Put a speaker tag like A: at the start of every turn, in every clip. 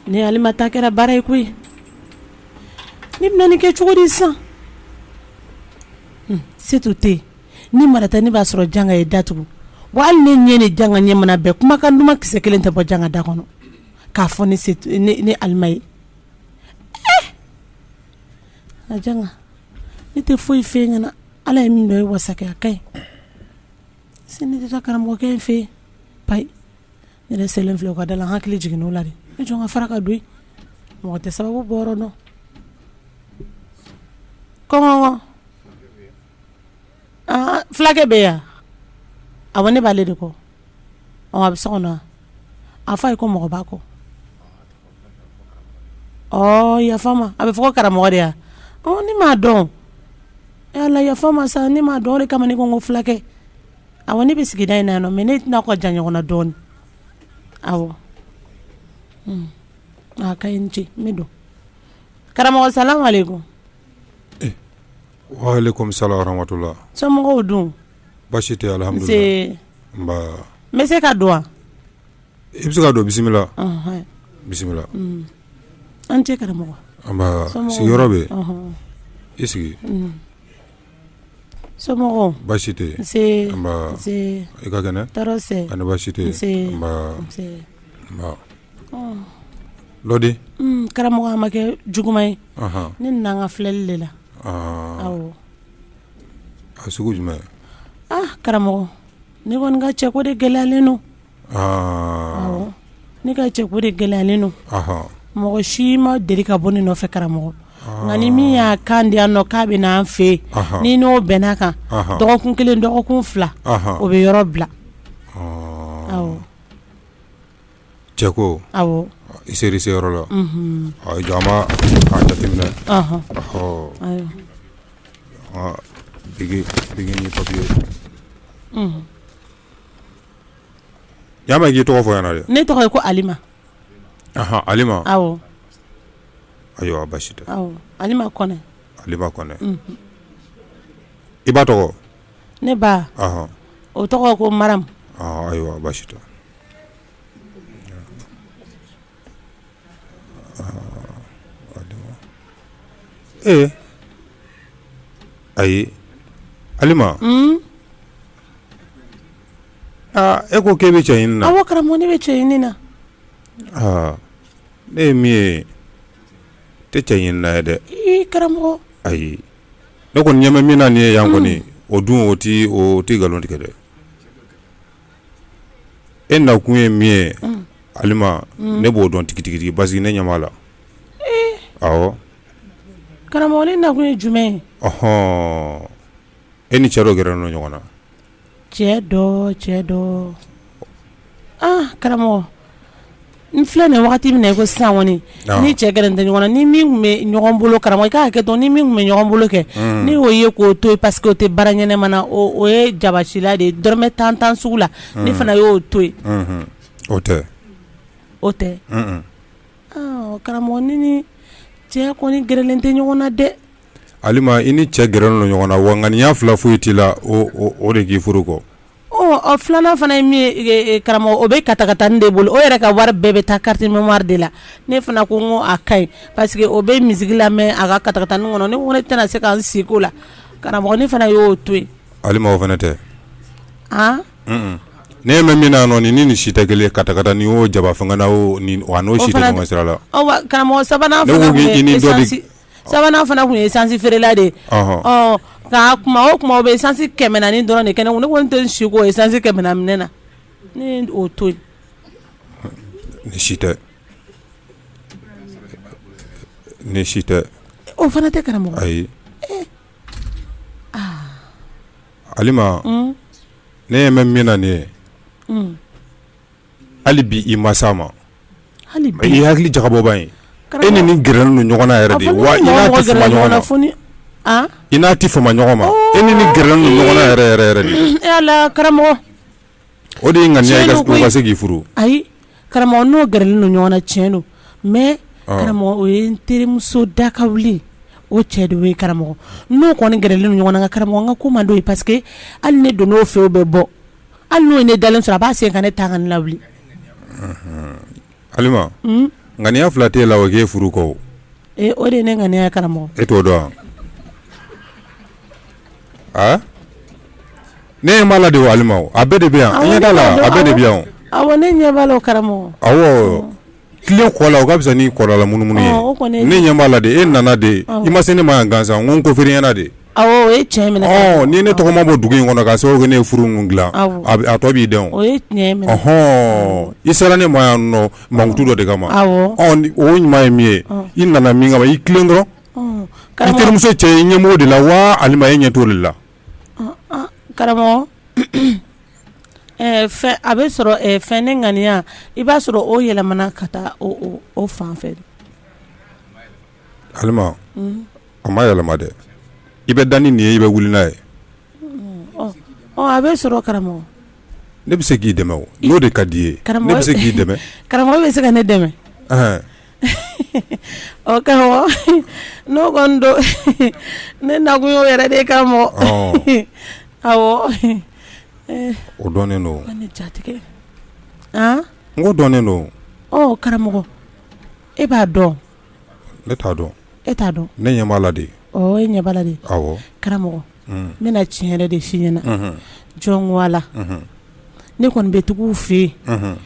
A: Ne alima ta kɛra baara ye koyi ne bɛna nin kɛ cogo di sisan setu tɛ yen ni marata ne b'a sɔrɔ janga ye da tugu wa hali ne ɲɛ ni janga ɲɛ mana bɛn kumakan duman kisɛ kelen tɛ bɔ janga da kɔnɔ k'a fɔ ne alima ye a ne tɛ foyi fɛ ɲɛna ala ye min dɔn ye wasa kɛ a ka ɲi Sini tɛ taa karamɔgɔkɛ in fɛ payi ne yɛrɛ selen filɛ o ka da la hakili jiginna o la de ne jɔn ka fara ka don mɔgɔ tɛ sababu bɔyɔrɔ dɔn kɔnkɔ fulakɛ bɛ yan awɔ ne b'ale de kɔ a bɛ so kɔnɔ a f'a ye ko mɔgɔ b'a kɔ yafa ma a bɛ fɔ ko karamɔgɔ de yan ne m'a dɔn ala yafa ma sa ne m'a dɔn de kama ne ko n ko fulakɛ awɔ ne bɛ sigida in na yan nɔ mɛ ne n'a ka jan ɲɔgɔn na dɔɔnin awɔ a ka ɲi i ni ce n bɛ don karamɔgɔ salamu aleyikum
B: waleyikum salam warahamatula somɔgɔw dun
A: baasi tɛ
B: n bɛ se ka
A: don wa I bɛ
B: se ka don bisimila
A: bisimila aw ni ce karamɔgɔ nba
B: sigiyɔrɔ bɛ i
A: sigi somɔgɔw baasi tɛ
B: i ka kɛnɛ ani baasi
A: tɛ
B: dɔ di
A: karamɔgɔ a ma kɛ juguman ye ne nana n ka filɛli de la
B: a sugu jumɛn karamɔgɔ
A: ne kɔni ka cɛko de gɛlɛyalen don ne ka cɛko de gɛlɛyalen don mɔgɔ si ma deli ka bɔ ne nɔfɛ karamɔgɔ nka ni min y'a kan di yan nɔ k'a bɛ na n fɛ yen ni n n'o bɛnn'a kan dɔgɔkun kelen dɔgɔkun fila o bɛ yɔrɔ bila
B: cɛko awɔ i
A: sera i seyɔrɔ
B: la jama jateminɛ papi Yaa ma k'i tɔgɔ fɔ yan dɛ ne tɔgɔ ye ko
A: alima
B: alima awɔ ayiwa baasi tɛ awɔ alima kɔnɛ alima kɔnɛ i ba tɔgɔ ne ba
A: o tɔgɔ ko maram ayiwa
B: baasi tɛ ee ayi alima E ko k'e bɛ cɛ ɲini na awɔ karamɔgɔ ne bɛ cɛ
A: ɲini
B: na ne ye min ye tɛ cɛ ɲini na ye dɛ karamɔgɔ
A: ayi
B: ne kɔni ɲɛ bɛ min na nin ye yan kɔni o dun o tɛ o tɛ nkalon tigɛ dɛ e nakun ye min ye Halima ne b'o dɔn tigitigi parce que ne ɲɛ b'a la
A: awɔ karamɔgɔ ne nakun ye jumɛn ye
B: e ni cɛ dɔ gɛrɛlen don ɲɔgɔn na
A: cɛ dɔ cɛ dɔ aa karamɔgɔ n filɛ nin wagati min na i ko sisan kɔni n ni cɛ gɛrɛlen tɛ ɲɔgɔn na n ni min tun bɛ ɲɔgɔn bolo karamɔgɔ i ka hakɛ to n ni min tun bɛ ɲɔgɔn bolo kɛ n' y'o ye k'o to yen parce que o tɛ baara ɲɛnama na o ye jabasila de ye dɔrɔmɛ tan tan sugu la ne fana y'o to yen o tɛ
B: o tɛ
A: karamɔgɔ ne ni cɛ kɔni gɛrɛlen tɛ ɲɔgɔn na dɛ Halima i
B: ni cɛ gɛrɛlen don ɲɔgɔn na wa ŋaniya fila foyi t'i la o de k'i furu kɔ ɔ
A: filanan fana ye min ye karamɔgɔ o bɛ katakatanin de bolo o yɛrɛ ka wari bɛɛ bɛ taa carte mémoire de la ne fana ko n ko a ka ɲi parce que o bɛ musique lamɛn a ka katakatanin kɔnɔ ne tɛna se ka n sigi o la karamɔgɔ ne fana y'o to yen Halima o fana
B: tɛ ne ɲɛ bɛ min na nɔ nin si tɛ kelen katakatanin y'o jaba fanga la n'o si tɛ ɲɔgɔn sira la karamɔgɔ
A: sabanan Sabanan fana tun ye essence feerela de ka kuma o kuma o bɛ essence kɛmɛ naani dɔrɔn de kɛ ne kun ne ko n tɛ se k'o essence kɛmɛ naani minɛ na ne y'o to yen
B: nin si tɛ nin si tɛ
A: o fana tɛ karamɔgɔ
B: ayi Halima ne ɲɛ bɛ min na nin ye hali bi i ma s'a ma hali bi i ye hakili jagabɔba ye e ni nin gɛrɛlen don ɲɔgɔn na yɛrɛ de wa i n'a tɛ fama ɲɔgɔn na fo ni an i n'a tɛ fama ɲɔgɔn ma e ni nin gɛrɛlen don ɲɔgɔn na yɛrɛ yɛrɛ yɛrɛ de ee Ala karamɔgɔ o de ye ŋaniya ye tiɲɛ don koyi ka se k'i furu ayi
A: karamɔgɔ n'o gɛrɛlen don ɲɔgɔn na tiɲɛ don mais ɔ karamɔgɔ o ye n terimuso dakawuli ye o cɛ de y'o ye karamɔgɔ n'o kɔni gɛrɛlen don ɲɔgɔn na nka karamɔgɔ n ka ko man d'o ye parce que hali ne donn'o fɛ o bɛ bɔ Hali n'o ye ne dalen sɔrɔ a b'a sen ka ne tan ka ne lawuli,
B: unhun, Halima, un, ŋaniya fila t'e la o k'e furu kɔ wo, ee o de ye ne
A: ŋaniya ye karamɔgɔ, e t'o dɔn
B: wa, a ne ɲɛ b'a la de o Halima o, a bɛɛ de bɛ yan, i ɲɛ t'a la wa, a bɛɛ de bɛ yan o, awɔ ne ɲɛ b'a la
A: o karamɔgɔ, awɔ
B: tilen ko la o ka fisa ni kɔrɔla munumunu ye, ɔ o kɔni ye, ne ɲɛ b'a la de e nana de i ma se ne ma yan gansan n ko n kofɔr'i ɲɛ na de, awɔ o ye tiɲɛ
A: minɛ, ɔ ni ne tɔgɔ ma bɔ dugu in
B: kɔnɔ k'a sababu kɛ ne ye furu ninnu dilan a tɔ b'i dɛn o, o ye tiɲɛ ye,
A: ɔhɔn, i sera ne ma
B: yan nɔ mankutu dɔ de kama, awɔ, ɔ
A: o ɲuman ye
B: min ye i nana min kama i tilen dɔrɔn, ɔ, karamɔgɔ, i terimuso cɛ i ɲɛ b'o de la wa Halima e ɲɛ t'o de la
A: Karamɔgɔ a bɛ sɔrɔ fɛn ne ŋaniya i b'a sɔrɔ o yɛlɛmana ka taa o fan fɛ
B: Halima a ma yɛlɛma dɛ i bɛ da ni nin ye i bɛ wuli n'a
A: ye a bɛ sɔrɔ karamɔgɔ ne bɛ se
B: k'i dɛmɛ o n'o de ka di i ye ne bɛ se k'i dɛmɛ karamɔgɔ bɛ se ka ne
A: dɛmɛ ɔ karamɔgɔ n'o kɔni don ne nakun y'o yɛrɛ de ye karamɔgɔ
B: awɔ o dɔnnen don ne jatigikɛ n ko dɔnnen don ɔ
A: karamɔgɔ e b'a dɔn ne
B: t'a dɔn e t'a dɔn ne
A: ɲɛ b'a la
B: de e ɲɛ b'a la
A: de karamɔgɔ n bɛna tiɲɛ yɛrɛ de f'i ɲɛna jɔn ko ala ne kɔni bɛ tugu fɛ yen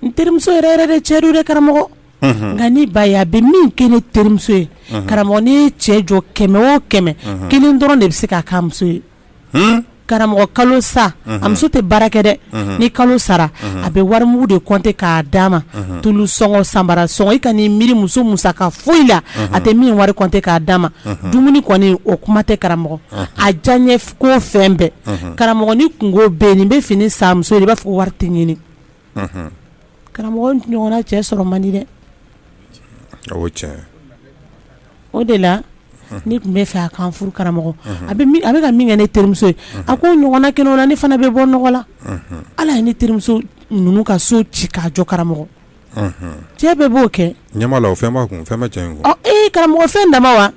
A: n terimuso yɛrɛ yɛrɛ de cɛ don dɛ karamɔgɔ unhun nka ne b'a ye a bɛ min kɛ ne terimuso ye unhun karamɔgɔ n'i ye cɛ jɔ 100 o 100 unhun 1 dɔrɔn de bɛ se k'a k'a muso ye hunn karamɔgɔ kalo sa unhun a muso tɛ baara kɛ dɛ unhun ni kalo sara unhun a bɛ warimugu de compter k'a d'a ma unhun tulu sɔngɔ sanbara sɔngɔ i kan'i miiri muso musaka foyi la unhun a tɛ min wari compter k'a d'a ma unhun dumuni kɔni o kuma tɛ karamɔgɔ unhun a diyaɲɛ ko fɛn bɛɛ unhun karamɔgɔ ni kunko bɛ yen nin bɛ fini san muso ye de i b'a fɔ ko wari tɛ ɲinin karamɔgɔ ɲɔgɔnna cɛ sɔrɔ man di dɛ o de la ne tun b'a fɛ a ka n furu karamɔgɔ a bɛ ka min kɛ ne terimuso ye a k'o ɲɔgɔnna kɛ ne la ne fana bɛ bɔ nɔgɔ la hali a ye ne terimuso ninnu ka so ci k'a jɔ karamɔgɔ cɛ bɛɛ b'o kɛ ɲa fɛn
B: fɛn e karamɔgɔ fɛn dama
A: wa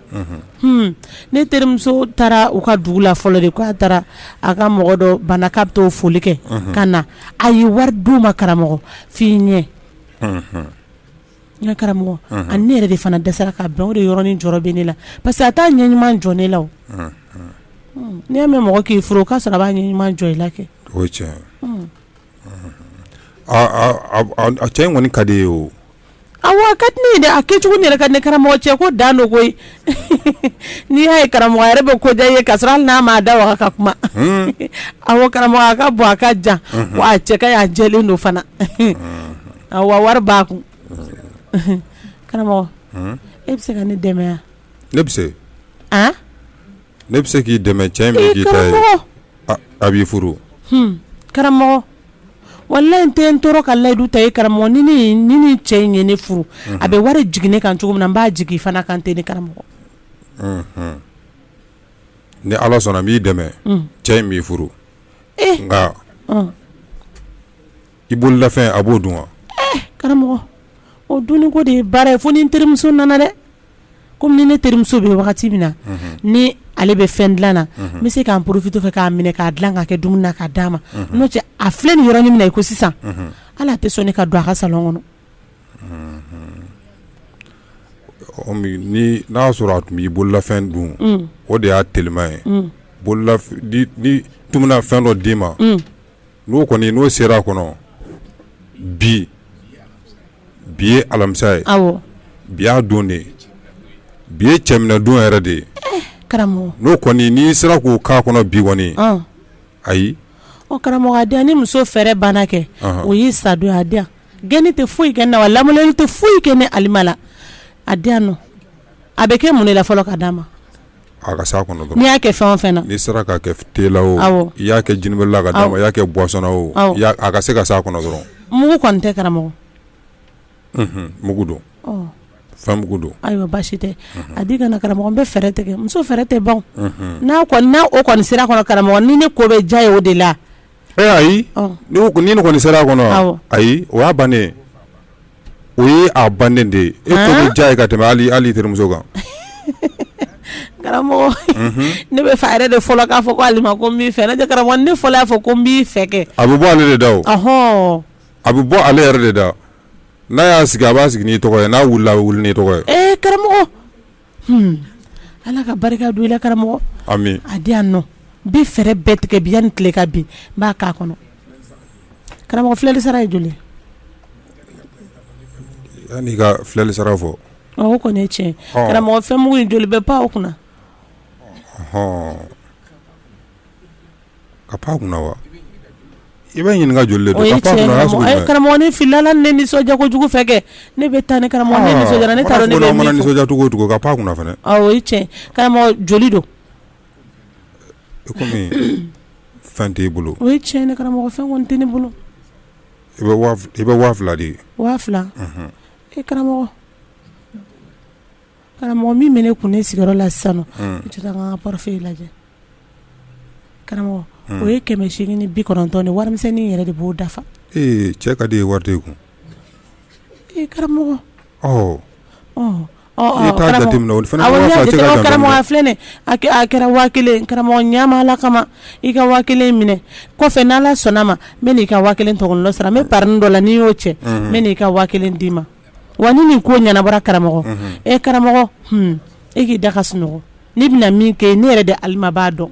A: Ne terimuso taara u ka dugu la fɔlɔ de k'a taara a ka mɔgɔ dɔ bana k'a bɛ t'o foli kɛ ka na a ye wari d'u ma karamɔgɔ f'i ɲɛ n karamɔgɔ a ni ne yɛrɛ de fana dɛsɛra ka bɛn o de yɔrɔnin jɔrɔ bɛ ne la parce que a t'a ɲɛ ɲuman jɔ ne la o n'i y'a mɛn mɔgɔ k'i furu o k'a sɔrɔ a b'a ɲɛ ɲuman jɔ i la kɛ
B: cɛ in kɔni ka di i ye o A
A: ka di ne ye dɛ a kɛcogo yɛrɛ ka di ne karamɔgɔ cɛ ko dan don koyi n'i y'a ye karamɔgɔ a yɛrɛ bɛ ko diya i ye k'a sɔrɔ hali n'a m'a da waga ka kuma awɔ karamɔgɔ a ka bon a ka jan wa a cɛ ka ɲi a jɛlen don fana awɔ wari b'a kun karamɔgɔ e bɛ se ka ne dɛmɛ yan ne bɛ
B: se ne bɛ se k'i dɛmɛ cɛ in a b'i furu karamɔgɔ
A: walayi n tɛ n tɔɔrɔ ka layidu ta i ye karamɔgɔ ni nin cɛ in ye ne furu a bɛ wari jigin ne kan cogo min na n b'a jigin i fana kan ten ne karamɔgɔ
B: ni ala sɔnna n b'i dɛmɛ cɛ in b'i furu nka i bololafɛn a b'o dun wa karamɔgɔ
A: o dunniko de ye baara ye fo ni n terimuso nana dɛ komi ni ne terimuso bɛ wagati min na ni ale bɛ fɛn dila na n bɛ se k'an profiter fɛ k'a minɛ k'a dila k'a kɛ dumuni na k'a d'a ma n'o tɛ a filɛ nin yɔrɔnin min na i ko sisan hali a tɛ sɔn ne ka don a ka salon kɔnɔ ni
B: n'a y'a sɔrɔ a tun b'i bololafɛn dun o de y'a telima ye n tun na fɛn dɔ d'i ma n'o kɔni n'o sera a kɔnɔ bi bi ye alamisa ye bi y'a don de bi ye cɛminɛdon yɛrɛ de ye n'o
A: kɔni n'i
B: sera k'o k'a kɔnɔ bi kɔni ayi o
A: karamɔgɔ a di yan ni muso fɛɛrɛ banna kɛ o y'i sadon ye a di yan gɛnni tɛ foyi kɛ n na wa lamaloli tɛ foyi kɛ ne Alima la a di yan nɔ a bɛ kɛ mun de la fɔlɔ ka d'a ma A ka
B: s'a kɔnɔ dɔrɔn. N'i y'a kɛ fɛn o fɛn na.
A: N'i sera k'a kɛ
B: thé la wo i y'a kɛ jinibeli la k'a d'a ma i y'a kɛ boisson na wo a ka se ka s'a kɔnɔ dɔrɔn. Mugu kɔni tɛ karamɔgɔ?
A: Unhun
B: mugu don. Fɛn mugu don. Ayiwa baasi
A: tɛ a di ka na karamɔgɔ n bɛ fɛɛrɛ tigɛ muso fɛɛrɛ tɛ ban wo. N'a kɔni n'o kɔni sera a kɔnɔ karamɔgɔ ni ne ko bɛ diya a ye o de la Ee ayi
B: ni nin kɔni sera a kɔnɔ ayi o y'a bannen o ye a bannen de ye e ko bɛ diya a ye ka tɛmɛ hali i terimuso kan karamɔgɔ
A: ne b'a fɛ a yɛrɛ de fɔlɔ k'a fɔ ko Alima ko n b'i fɛ ne tɛ karamɔgɔ ne
B: fɔlɔ
A: y'a fɔ ko n b'i fɛ
B: kɛ
A: a bɛ bɔ
B: ale
A: de
B: da
A: o a bɛ
B: bɔ ale yɛrɛ de da n'a y'a sigi a b'a sigi n'i tɔgɔ ye n'a wulila a bɛ wuli n'i tɔgɔ ye karamɔgɔ
A: Ala ka barika don i la karamɔgɔ a
B: di yan
A: nɔ n bɛ fɛɛrɛ bɛɛ tigɛ bi yanni tile ka bin n b'a k'a kɔnɔ karamɔgɔ filɛli sara ye joli
B: yanni ka filɛli sara fɔ o kɔni ye
A: tiɲɛ karamɔgɔ fɛn mugu in joli bɛ pan o kunna
B: ka pan kunna wa i bɛ ɲininka joli de don ka pan kunna sugu jumɛn karamɔgɔ n filila
A: ne nisɔndiya kojugu fɛ kɛ ne bɛ taa ni karamɔgɔ ne nisɔndiyara ne t'a dɔn ne bɛ min fɔ nisɔndiya cogo o cogo ka pan kunna
B: fana o ye tiɲɛ
A: karamɔgɔ joli don i
B: kɔmi fɛn t'i bolo o ye tiɲɛ ne
A: karamɔgɔ fɛn kɔni tɛ ne
B: bolo i bɛ waa fila di waa fila
A: e karamɔgɔ Karamɔgɔ min bɛ ne kun ne sigiyɔrɔ la sisan nɔ i tɛ taa n ka portefeuille lajɛ karamɔgɔ o ye kɛmɛ seegin ni bi kɔnɔntɔn ni warimisɛnnin yɛrɛ de b'o dafa ee cɛ ka di
B: i ye wari t'i kun e
A: karamɔgɔ
B: karamɔgɔ
A: filɛ a kɛra waa kelen karamɔgɔ ɲa n ma Ala kama i ka waa kelen minɛ kɔfɛ n'Ala sɔnna a ma n bɛn'i ka waa kelen tɔgɔ sara n bɛ parinin dɔ la ni n y'o cɛ n bɛn'i ka waa kelen d'i ma Wa ni nin ko ɲɛnabɔra karamɔgɔ e karamɔgɔ e k'i da ka sunɔgɔ ne bɛna min kɛ ne yɛrɛ de Ala b'a dɔn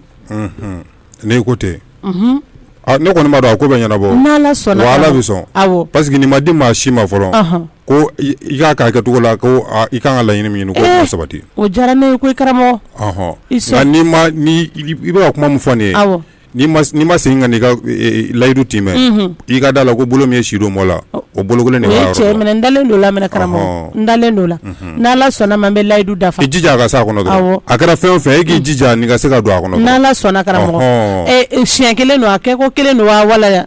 B: ne ko tɛ ne kɔni b'a dɔn a ko bɛ ɲɛnabɔ n'Ala sɔnna wa Ala bɛ sɔn parce que nin ma
A: di
B: maa si ma fɔlɔ ko i k'a k'a kɛcogo la i ka kan ka laɲini min ɲini k'o sabati o diyara ne ye koyi
A: karamɔgɔ
B: nka i bɛ ka kuma min fɔ nin ye N'i ma
A: n'i ma
B: segin ka n'i ka e e e layidu tiimɛ unhun i ka da a la ko bolo min ye si don mɔɔ la ɔ o bolo 1 de b'a yɔrɔ la o ye tiɲɛ ye mais n dalen don o la mɛnɛ karamɔgɔ ɔnhɔɔn n dalen don o la unhun n'Ala sɔnna a ma n bɛ layidu dafa i jija a ka se a kɔnɔ dɔrɔn awɔ a kɛra fɛn o fɛn ye e k'i jija nin ka se ka don a kɔnɔ dɔrɔn n'Ala sɔnna karamɔgɔ ɔnhɔɔn e e siɲɛ 1 don a kɛko 1 don waa wala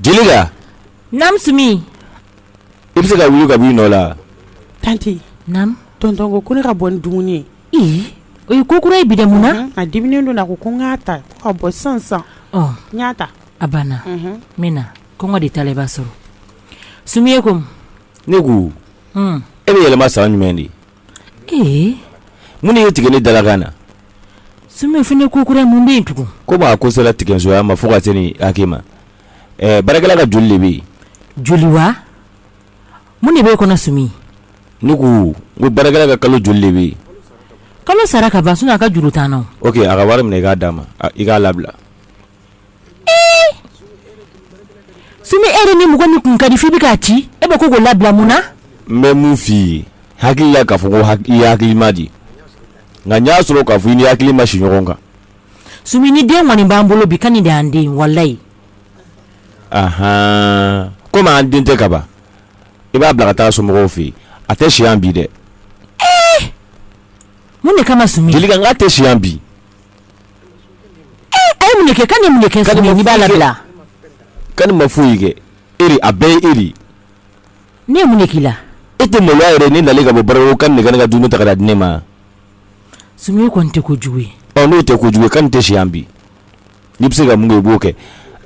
B: Jelika naamu Sumi i bɛ se ka wuli ka b'i nɔ la tante naamu tonton ko ne ka bɔ ni dumuni ye o ye ko kura ye bi dɛ mun na a diminen don a ko ko n k'a ta ka bɔ sisan n y'a ta a banna n bɛ na kɔngɔ de t'a la i b'a sɔrɔ Sumi e ko mun ne ko e bɛ yɛlɛma san jumɛn de mun de y'i tigɛ ne dalakan na Sumi fɔ n ye ko kura mun bɛ yen tugun komi a ko sera tigɛsoya ma fo ka se nin hakɛ ma baarakɛla ka joli de bɛ yen joli wa mun de b'e kɔnɔ Sumi ne ko ko baarakɛla ka kalo joli de bɛ yen kalo sara ka ban a ka juru t'an na ok a ka wari minɛ i k'a d'a ma i k'a labila Sumi e ni mɔgɔ min kun ka di f'i bɛ k'a ci e bɛ ko k'o labila mun na n bɛ mun f'i ye hakili la k'a fɔ ko ha i hakili ma di nka n y'a sɔrɔ k'a fɔ i ni hakili ma si ɲɔgɔn kan Sumi ni den kɔni b'an bolo bi Kani de y'an den walayi aɔn komi an den tɛ kaban i b'a bila ka taa somɔgɔw fɛ yen a tɛ si yan bi dɛ mun de kama Sumi Jelika n k'a tɛ si yan bi mun de kɛ Kani ye mun de kɛ Sumi n'i b'a labila Kani ma foyi kɛ e de a bɛɛ ye e de ne ye mun de k'i la e tɛ maloya yɛrɛ ne nalen ka bɔ baara ko Kani de ka ne ka dumuni ta ka n'a di ne ma Sumi o kɔni tɛ kojugu ye ɔ n'o tɛ kojugu ye Kani tɛ si yan bi n'i bɛ se ka mun kɛ i b'o kɛ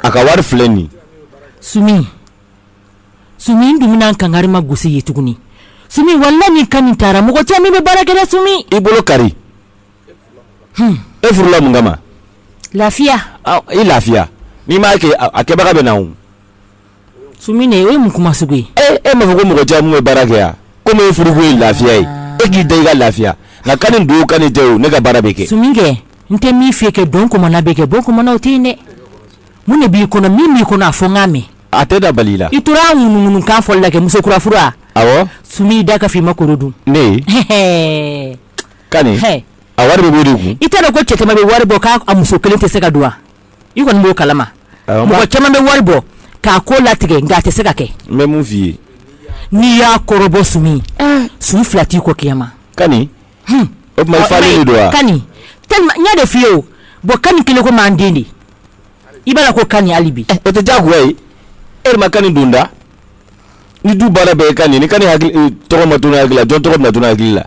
B: a ka wari filɛ nin sumi sumi n dumuni an kankari ma gosi ye tuguni sumi walayi ni Kani taara mɔgɔ caman bɛ baara kɛ dɛ sumi i bolo kari e furula mun kama lafiya i lafiya n'i m'a kɛ a kɛbaga bɛ na o Sumi nin o ye mun kuma sugu ye e m'a fɔ ko mɔgɔ caman bɛ baara kɛ yan komi e furuko ye lafiya ye e k'i da i ka lafiya nka Kani don Kani tɛ o ne ka baara bɛ kɛ Sumi kɛ n tɛ min f'i ye kɛ dɔn kɔmana bɛ kɛ bɔn kɔmana o tɛ yen dɛ mun de b'i kɔnɔ min b'i kɔnɔ a fɔ n k'a mɛn a
C: tɛna bali i la i tora a ŋunuŋunu kan
D: fɔli la kɛ muso kura furu wa awɔ sumi i
C: da ka f'i ma
D: kɔrɔ dun ne
C: a wari bɛ bɔ di ko i taara ko cɛ bɛ
D: wari bɔ k'a muso kelen tɛ se ka don i kɔni b'o kalama mɔgɔ caman bɛ wari bɔ k'a ko latigɛ nka a tɛ se ka kɛ ye
C: n'i y'a
D: kɔrɔbɔ Sumi Sumi fila t'i ko kema ka de f ye o bɔ Kani kelen ko m'an den de i b'a ko Kani hali bi o tɛ jago
C: ye e ma Kani donda ni du baara bɛ Kani ni Kani hakili tɔgɔ ma hakili la jɔn tɔgɔ na hakili la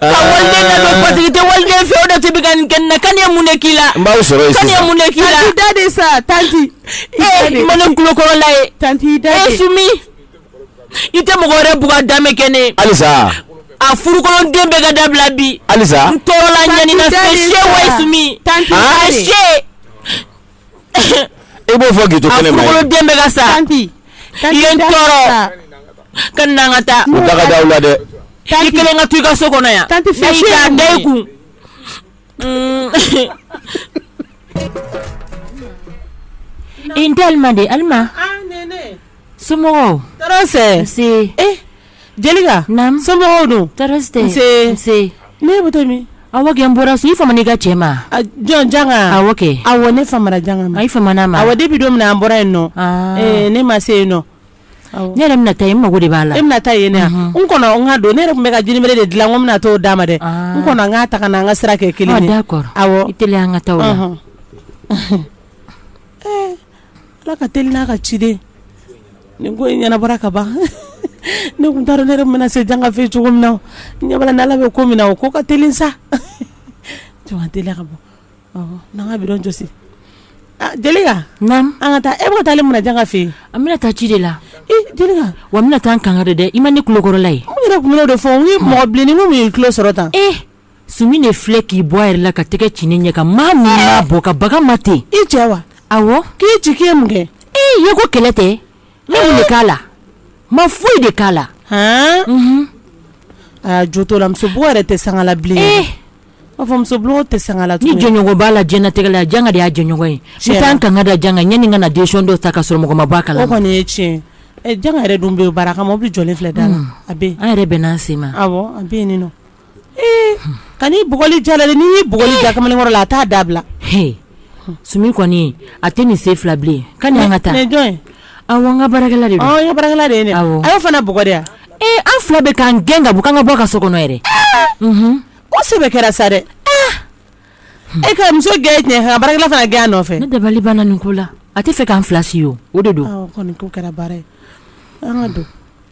A: Ah. ka
D: waliden ladon parce que i tɛ waliden fɛ o de t'i bɛ ka nin kɛ ne na Kani ye mun de k'i la n b'aw sɔrɔ yen Kani
C: ye mun de k'i la tanti
D: Dade sa
A: tanti ee ma ne
D: kulokɔrɔla ye tanti Dade ee Sumi i tɛ mɔgɔ wɛrɛ bugɔ n'a ma kɛ ne ye
C: halisa a
D: furukolon den bɛ ka dabila bi halisa n tɔɔrɔla
C: ɲani na
D: Tanti se Dade se sa. wa ye sumi Tanti a Dade. se
C: E b'o fɔ k'i to kɛnɛma yan. A furukolon den bɛ ka sa.
D: Tanti. I
A: ye n
D: tɔɔrɔ. Ka na an ka taa. U da ka di aw la dɛ.
C: I kelen ka to i
D: ka so kɔnɔ yan. Tanti fɛn si ye mun ye? Ayi k'a da
A: i kun.
D: I n tɛ Alima de ye. Alima. Aa Nɛnɛ.
A: Somɔgɔw.
D: Tɔɔrɔ si. Nse.
A: E Jelika
D: somɔgɔw
A: dun e bɔtɔ min a n bɔra so
D: i famana i ka cɛ ma jɔn Janka
A: awɔ ne
D: famana
A: Janka ma i famana a ma wa de bi don
D: min an bɔra
A: yen nɔ ne ma se yen nɔ ne yɛrɛ
D: bɛna taa i mago de b'a la e bɛna taa yen
A: ne n kɔnɔ n ka don ne yɛrɛ tun bɛ ka jinibɛrɛ de dilan ko n bɛna dɔ d'a ma dɛ n kɔnɔ an ka taa ka an ka sira kɛ kelen ye d'accord i
D: teliya an ka
A: taa la Ala ka teli n'a ka ciden nin ko in ɲɛnabɔra ka ban ne tun taara ne yɛrɛ mana se Janka fɛ cogo min na ɲa b'a la ni Ala bɛ ko min na o ko ka teli sa jɔn tɛ ka bɔ n'an ka bi don jɔsi Jelika an
D: ka taa e bɛ taa mun
A: na Janka fɛ yen an bɛna taa ci de
D: la wa
A: a bɛna taa an kan
D: kari dɛ i ma ne kulokɔrɔla ye yɛrɛ kun dɔ fɔ n
A: mɔgɔ bilen ni min ye tulo sɔrɔ tan Sumi
D: ne filɛ k'i bɔ yɛrɛ la ka tɛgɛ ci ne ɲɛ kan maa min b'a bɔ ka baga n ma ten i cɛ wa
A: a k'i
D: ci kɛ mun
A: kɛ ee ye ko kɛlɛ tɛ
D: ne de k'a la n ma foyi de k'a la
A: aa jo t'o la muso bugɔ yɛrɛ tɛ sanga la bilen ee b'a fɔ muso bugɔli tɛ sanga la ni jɔnɲɔgɔn b'a la
D: jtigɛ la Janka de y'a jɔnɲɔgɔn ye si tan ka kan ka da Janka ɲani ka na den dɔ ta ka sɔrɔ mɔgɔ ma bag'a la kɔni ye tiɲɛ
A: Janka yɛrɛ dun bɛ baara kan mɔbili jɔlen filɛ da la a an yɛrɛ bɛn n'an sen ma
D: a bɛ nin
A: Ee Kani bugɔli ja a la de ni bugɔli ja kamalenkɔrɔ la a t'a dabila
D: Sumi kɔni a tɛ nin sen fila bilen Kani an ka taa ni jɔn a
A: an ka
D: baarakɛla de baarakɛla de ye
A: a y'o fana bugɔ de ee an fila bɛ k'an
D: gɛn ka bɔ an ka bɔ ka so kɔnɔ
A: yɛrɛ o sɛbɛ kɛra sa dɛ e ka muso gɛn tiɲɛ baarakɛla fana gɛn nɔfɛ ne dabali banna nin ko
D: la a tɛ fɛ k'an filasi ye o de don kɛra baara
A: ye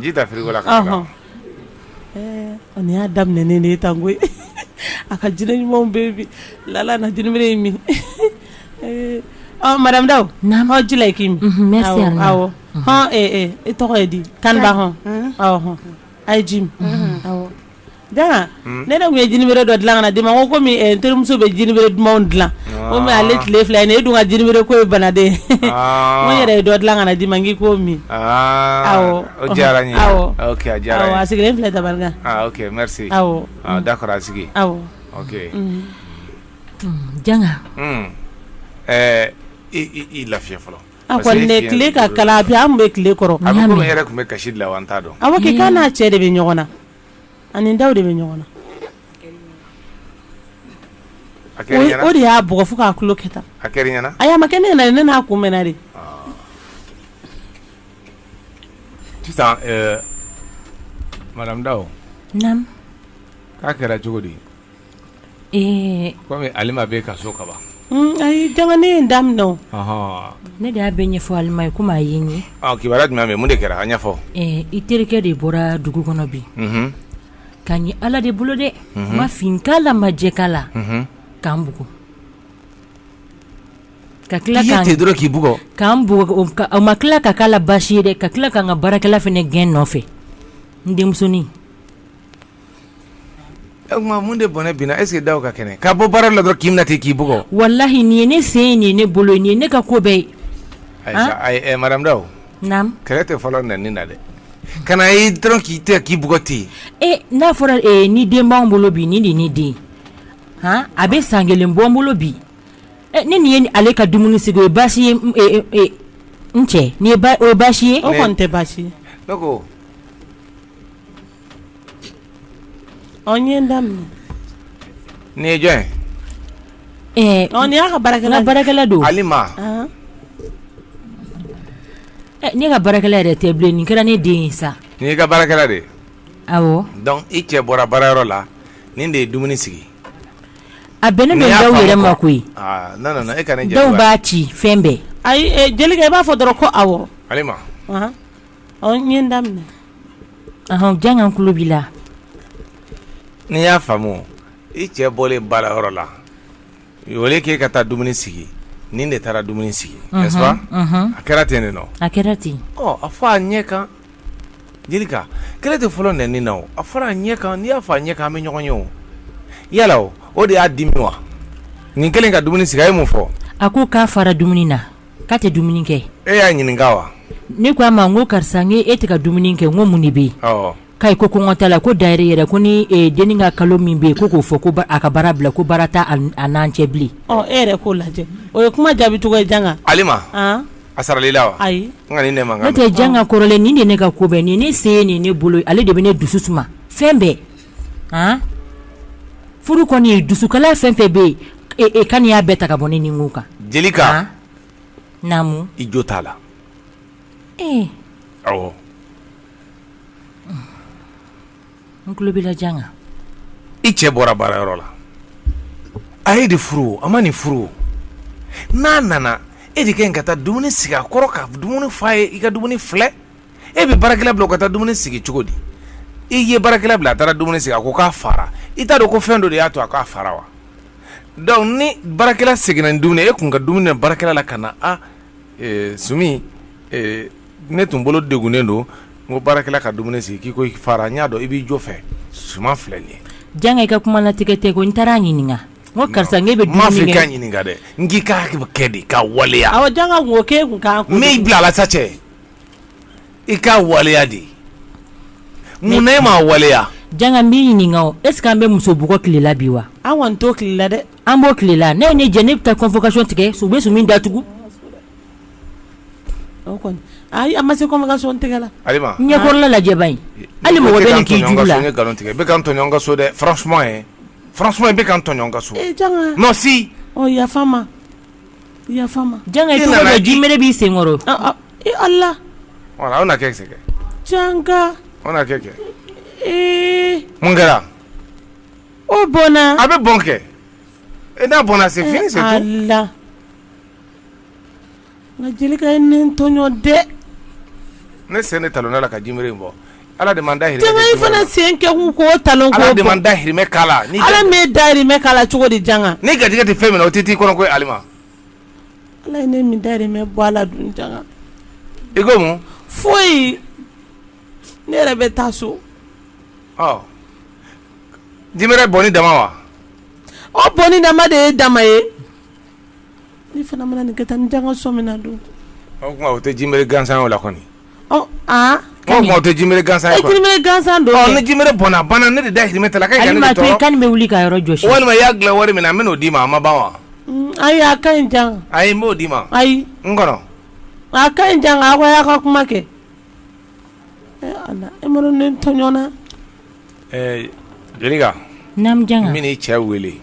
B: Ji ta frigo la
A: ka n y'a daminɛ ne de ye tan koyi a ka jinɛ ɲumanw bebi Lala na jinibɛrɛ min madame Daw hɔn ji ye k'i min
D: awɔ
A: hɔn e tɔgɔ ye di Kanba hɔn aw hɔn a ye ji min aw Janga ne ne tun ye jinibɛrɛ dɔ dilan ka na di i ma n ko kɔmi n terimuso bɛ jinibɛrɛ duman dilan kɔmi ale tile fila ye e dun ka jinibɛrɛ ko ye bana de ye n yɛrɛ ye dɔ dilan ka na di i ma n k'i k'o min
E: awɔ o diyara n ye a diyara n ye awɔ a sigilen
A: filɛ tabali kan
E: ok merci awɔ
A: d'accord a
E: sigi awɔ ok janga i lafiya fɔlɔ A kɔni ne
A: tile ka kalan bi an bɛ tile kɔrɔ a bɛ komi e yɛrɛ tun bɛ
E: kasi la wa n t'a dɔn awɔ kɛ k'a n'a cɛ
A: de bɛ ɲɔgɔn na a ni Daw de bɛ ɲɔgɔn na
E: a kɛra i ɲɛna o de y'a bugɔ fo k'a
A: tulo kɛ tan a kɛra i ɲɛna ayi a
E: ma kɛ ne ɲɛna dɛ ne
A: n'a kunbɛnna
E: de sisan ɛɛ madame Daw naamu
D: k'a
E: kɛra cogo di Ee kɔmi Alima bɛ ka so kaban ayi janga
A: n ye n daminɛ ne de
D: y'a bɛɛ ɲɛfɔ Alima ye kɔmi a ye n ye kibaruya jumɛn bɛ mun de
E: kɛra a ɲɛfɔ i terikɛ
D: de bɔra dugu kɔnɔ bi ka ɲɛ Ala de bolo dɛ ma fin k'a la ma jɛ k'a la k'an bugɔ ka tila k'i ye ten dɔrɔn k'i
E: bugɔ k'an
D: bugɔ o ma tila ka k'a la baasi ye dɛ ka tila k'an ka baarakɛla fana gɛn nɔfɛ n denmusonin
E: o tuma mun de bɔnɛ binna est ce que Daw ka kɛnɛ ka bɔ baara la dɔrɔn k'i minɛ ten k'i bugɔ walahi nin ye
D: ne sen ye nin ye ne bolo ye nin ye ne ka ko bɛɛ ye Aïcha, ayi, eh,
E: madame Daw naamu kɛlɛ tɛ
D: fɔlɔ nɛni
E: na dɛ ka na ye dɔrɔn k'i tɛ k'i bugɔ ten e n'a
D: fɔra e, nin den b'anw bolo bi nin de ye ne den ye. han a bɛ san kelen bɔ n bolo bi e, ne nin ye ni- ale ka dumuni sigi o ye baasi ye n- e, e, e, n cɛ nin ye ba- o ye baasi ye o kɔni tɛ baasi ye
A: ne ko Ɔ n ye n
E: daminɛ nin ye jɔn
A: ye ɔ nin y'a ka baarakɛla ye n ka baarakɛla don Alima
D: ne ka baarakɛla yɛrɛ tɛ bilen nin kɛra ne den ye sa nin y'i ka baarakɛla de
E: ye
D: awɔ donc i
E: cɛ bɔra baarayɔrɔ la nin de ye dumuni sigi
D: a bɛnnen don Daw yɛrɛ ma koyi aa non non non e ka ne
E: jaabi Daw b'a ci fɛn
D: bɛɛ ayi Jelika i b'a
A: fɔ dɔrɔn ko awɔ Alima N ye n
D: daminɛ janga tulo b'i
E: la n'i y'a faamu i cɛ bɔlen baarayɔrɔ la au lieu k'e ka taa dumuni sigi nin de taara dumuni sigi n'est-ce pas a kɛra ten de non a kɛra
D: ten a fɔ a
E: ɲɛ kan Jelika kɛlɛ tɛ fɔlɔ nɛni na o a fɔra a ɲɛ kan n'i y'a fɔ a ɲɛ kan an bɛ ɲɔgɔn ye o yala o de y'a dimi wa nin kelen ka dumuni sigi a ye mun fɔ a ko k'a fara
D: dumuni na k'a tɛ dumuni kɛ e y'a ɲininka
E: wa ne ko a ma n
D: ko karisa n e tɛ ka dumuni kɛ n ko mun de bɛ yen k'a ko kɔngɔ t'a la ko d'ailleurs yɛrɛ ko ni dennin ka kalo min bɛ yen ko k'o fɔ ko a ka baara bila ko baara t'a n'an cɛ bilen e yɛrɛ k'o
A: lajɛ o ye kuma jaabi cogo ye janga Alima
E: a saral'i la wa ayi ne
A: tɛ
E: janga kɔrɔlen
D: nin de ne ka ko bɛɛ nin ne sen ye nin ne bolo ale de bɛ ne dusu suma fɛn bɛɛ a furu kɔni ye dusukala fɛn fɛn bɛ ne kan nin y'a bɛɛ ta ka bɔ ne ni kan
E: Jelika
D: naamu i jo t'a la
E: ee
D: awɔ n tulo b'i la janga i
E: cɛ bɔra baara yɔrɔ la a y'e de furu a ma nin furu n'a nana e de ka kan ka taa dumuni sigi a kɔrɔ ka dumuni f'a ye i ka dumuni filɛ e bɛ baarakɛla bila o ka taa dumuni sigi cogo di i ye baarakɛla bila a taara dumuni sigi a ko k'a fara i t'a dɔn ko fɛn dɔ de y'a to a k'a fara wa donc ni baarakɛla seginna ni dumuni e tun ka dumuni baarakɛla la ka na a sumi ne tun bolo degunnen don n ko baarakɛla ka dumuni sigi k'i ko i fara n y'a dɔn i b'i jɔ fɛ suman filɛ nin ye janga i ka
D: kuma latigɛ tɛ ko n taara a ɲininka n ko karisa bɛ n m'a f'i k'a ɲininka dɛ
E: n k'i k'a kɛ de k'a waleya awɔ janga o kɛ
A: kun kan n bila ala sa cɛ
E: i k'a waleya dɛ mun na e m'a waleya janga n b'i
D: ɲininka o est ce que an bɛ muso bugɔ tile la bi wa an kɔni t'o tile
A: la dɛ an b'o tile la n'e
D: ye ne jɛ ne bɛ taa convocation tigɛ u bɛ Sumi datugu
A: ayi a ma se convocation tigɛ la
E: ɲɛkɔrɔla lajɛ ba
D: hali mɔgɔ bɛ nin k'i jugu la n ye nkalon tigɛ i bɛ ka
E: n tɔɲɔ n ka so dɛ franchement i bɛ ka n tɔɲɔ n ka so si yafa n ma
D: b'i sen
A: kɔrɔ
E: ala mun kɛra
A: o bɔnna a bɛ bɔn
E: kɛ n'a bɔnna c'est fini
A: la nka Jelika ye ne tɔɲɔ dɛ
E: ne sen de talonna a la ka jinbɛrɛ bɔn Ala de da fana sen kɛ
A: talon da
E: da
A: la
E: cogo di
A: jan
E: ne
A: garijɛ
E: tɛ
A: fɛn min
E: o tɛ t'i
A: kɔnɔ
E: ko ala
A: ala dun i ko
E: foyi
A: ne yɛrɛ bɛ taa so
E: di bɛ bɔ ni dama wa o
A: bɔn ni dama de ye dama ye N'i fana mana nin kɛ tan ni janga sɔ min na don o tuma o
E: tɛ jinbɛrɛ gansan o la kɔni aa
A: o tɛ jinbɛrɛ
E: gansan ye jinbɛrɛ gansan don ni
A: jinbɛrɛ bɔnna banna
E: ne de dahirimɛ t'a la n bɛ wuli ka yɔrɔ
D: jɔsi walima i y'a dilan wari min na
E: n bɛn'o d'i ma a ma ban wa ayi a
A: ka ɲi janga ayi n b'o d'i ma
E: ayi n kɔnɔ a ka
A: ɲi janga a ko y'a ka kuma kɛ e ma ne tɔɲɔ na ɛɛ Jelika
E: naamu janga n bɛna
D: i cɛ wele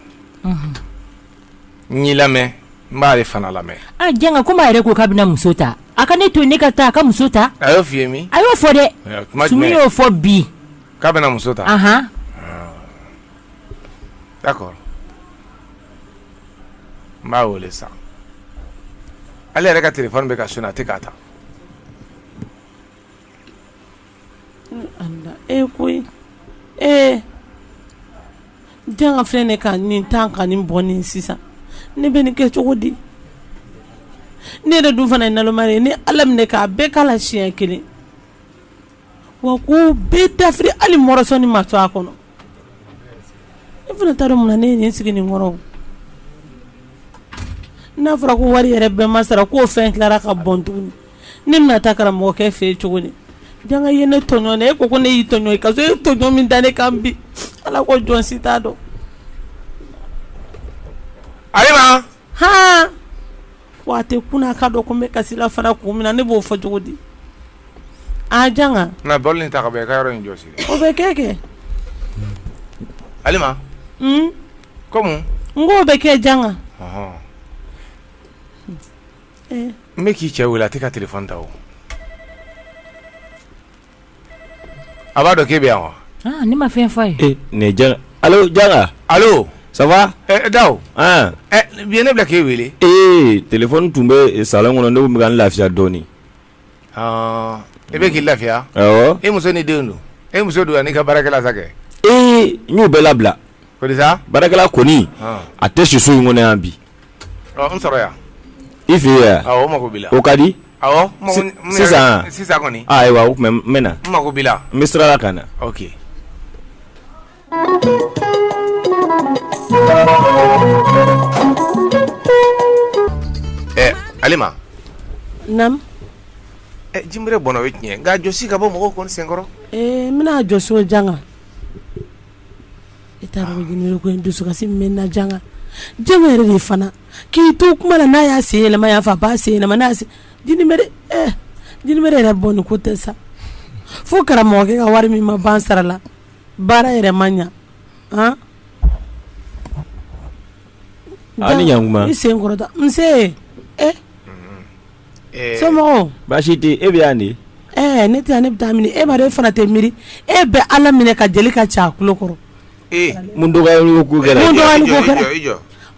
E: n y'i lamɛn n b'ale fana lamɛn a janga ko yɛrɛ ko
D: k'a bɛna muso ta a ka ne to ne ka taa a ka muso ta a y'o f'i ye min a y'o
E: fɔ dɛ tuma
D: y'o fɔ bi k'a bɛna muso
E: ta ahan d'accord n b'a wele sisan ale yɛrɛ ka telefɔni bɛ ka sonné a tɛ k'a ta
A: E ko ee janga filɛ ne ka nin tan ka nin bɔn nin sisan ne bɛ nin kɛ cogo di ne yɛrɛ dun fana ye naloma ye ni ala minɛ k'a bɛɛ k'a la siɲɛ kelen wa k'o bɛɛ dafiri hali mɔrɔsoni ma to a kɔnɔ e fana t'a dɔn mun na ne ye nin sigi nin kɔrɔ n'a fɔra ko wari yɛrɛ bɛɛ ma sara k'o fɛn tilara ka bɔn t ne bɛna taa karamɔgɔkɛ fɛ yen cogo di janga ye ne tɔɲɔ ne e ko ko ne y'i tɔɲɔ i ka so e tɔɲɔ min da ne kan bi ala ko jɔn si t'a dɔn
E: alima hɔn
A: wa a tɛ kun a k'a dɔn ko n bɛ kasi la fana kun min na ne b'o fɔ cogo di aa janga na bɔli
E: nin ta ka bɔ i ka yɔrɔ in jɔsi o bɛ kɛ kɛ alima hmm? ko mun n k'o bɛ kɛ
A: janga
E: N bɛ k'i cɛ wele a tɛ ka telefɔni ta o a b'a dɔn k'i bɛ yan wa ne ma fɛn f'a ye
D: ne
C: janga allo janga allo ça va
E: daw bi ne b'a la k'e weele ee
C: telefɔni tun bɛ salon kɔnɔ ne bɛ ka n lafiya dɔɔnin
E: i bɛ k'i lafiya e muso ni
C: denw
E: dun e muso dun an'i ka baarakɛla sa kɛ n
C: y'u bɛɛ labila
E: ko di sa baarakɛla kɔni
C: a tɛ si so in kɔnɔ yan bi
E: n sɔrɔ yan i
C: fɛ yan awɔ n mako b'i la o ka
E: di sisan sisan ayiwa n bɛ
C: na n mako b'i la n bɛ sira
E: la ka na Alima jinbɛrɛ bɔnna o ye tiɲɛ nka a jɔsi ka bɔ mɔgɔw kɔni sen kɔrɔ n bɛn'a
A: jɔsi o janga e t'a dɔn jinbɛrɛ ko in dusukasi min bɛ n na janga janga yɛrɛ de fana k'i to kuma la n'a y'a sen yɛlɛma yan fɛ a b'a sen yɛlɛma jinbɛrɛ yɛrɛ bɔnni ko tɛ sa fo karamɔgɔkɛ ka wari min ma ban sara la baara yɛrɛ ma ɲɛ
C: han Aw ni ɲankuma i sen kɔrɔta
A: nse e somɔgɔw baasi tɛ yen e bɛ
C: yan de ɛɛ ne tɛ yan ne bɛ
A: taa mini e b'a dɔn e fana tɛ miiri e bɛ Ala minɛ ka Jelika ci a tulo kɔrɔ
C: mun dɔgɔyali ko kɛra mun dɔgɔyali ko
A: kɛra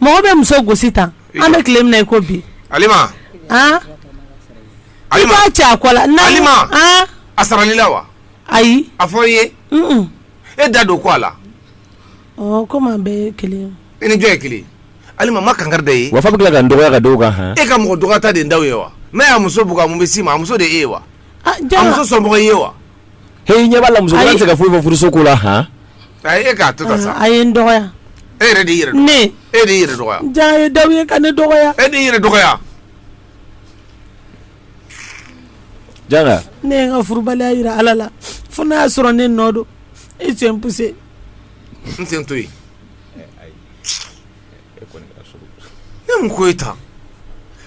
A: mɔgɔ bɛ muso gosi tan an bɛ tile min na i ko bi Alima
E: han
A: i b'a ci a kɔ la Alima
E: a sarala i la wa. ayi a fɔ i ye e da don ko a
A: la komi an bɛɛ kelen i ni jɔn ye
E: kelen Alima ma kankari da ye wa f'a bɛ tila ka n dɔgɔya ka
C: da o kan han e ka mɔgɔ dɔgɔyata de daw
E: ye wa n'a y'a muso bugɔ a mun bɛ s'i ma a muso de e ye wa a muso sɔnmɔgɔ i ye wa he i ɲɛ b'a
C: la muso wɛrɛ tɛ se ka foyi fɔ furuso ko la han ayi e
E: k'a to tan sa a ye n
A: dɔgɔya e yɛrɛ de y'i yɛrɛ
E: dɔgɔya ne e de y'i yɛrɛ dɔgɔya jaa ye daw ye ka ne
A: dɔgɔya e de y'i yɛrɛ dɔgɔya
C: Janga ne ye n
A: ka furubaliya jira Ala la fo n'a y'a sɔrɔ ne nɔ don i sen poussé n sen
E: to yen ne mun ko ye tan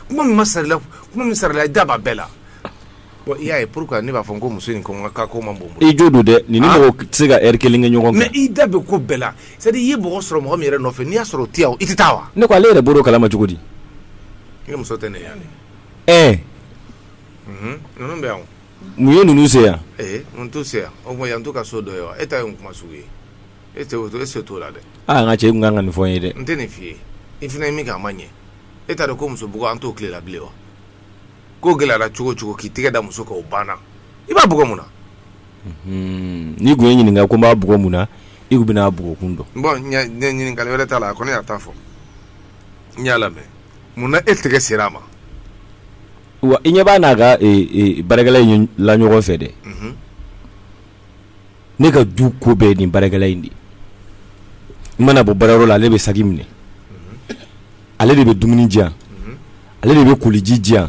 E: kuma min ma sar'i la kuma min sarala i da b'a bɛɛ la bon i y'a ye pourquoi ne b'a fɔ n ko muso in ko n ka ko man bon i jo don dɛ nin
C: ni mɔgɔ tɛ se ka heure kelen kɛ ɲɔgɔn kan mais i da bɛ ko bɛɛ la
E: c'est à dire i ye mɔgɔ sɔrɔ mɔgɔ min yɛrɛ nɔfɛ n'i y'a sɔrɔ o tɛ yan i tɛ taa wa ne ko ale yɛrɛ bɔr'o kalama
C: cogo di i muso
E: tɛ ne ye ɛɛ unhun ninnu bɛ yan o mun ye ninnu
C: se yan ee mun t'u se
E: yan o tuma yan t'u ka so dɔ ye wa e ta ye mun kuma sugu ye e tɛ o to e sen t'o la dɛ aa n ka cɛ i tun ka kan ka nin
C: fɔ n ye dɛ n tɛ nin f'i ye
E: i fana ye min kɛ a ma ɲɛ e t'a dɔn ko muso bugɔ an t'o tile la bilen wa ko gɛlɛyara cogo o cogo k'i tɛgɛ da muso kan o banna i b'a bugɔ mun na Hmm,
C: n'i tun ye n ɲininka ko n b'a bugɔ mun na i tun bɛna a bugɔkun dɔn bon ɲɛ- ɲɛ ɲininkali
E: wɛrɛ t'a la a kɔni y'a ta fɔ n y'a lamɛn munna e tɛgɛ sera a
C: ma wa i ɲɛ b'a n'a ka baarakɛla in la ɲɔgɔn fɛ dɛ ne ka du ko bɛɛ nin baarakɛla in de n mana bɔ baarayɔrɔ la ale bɛ saki minɛ ale de bɛ dumuni di yan ale de bɛ koliji di yan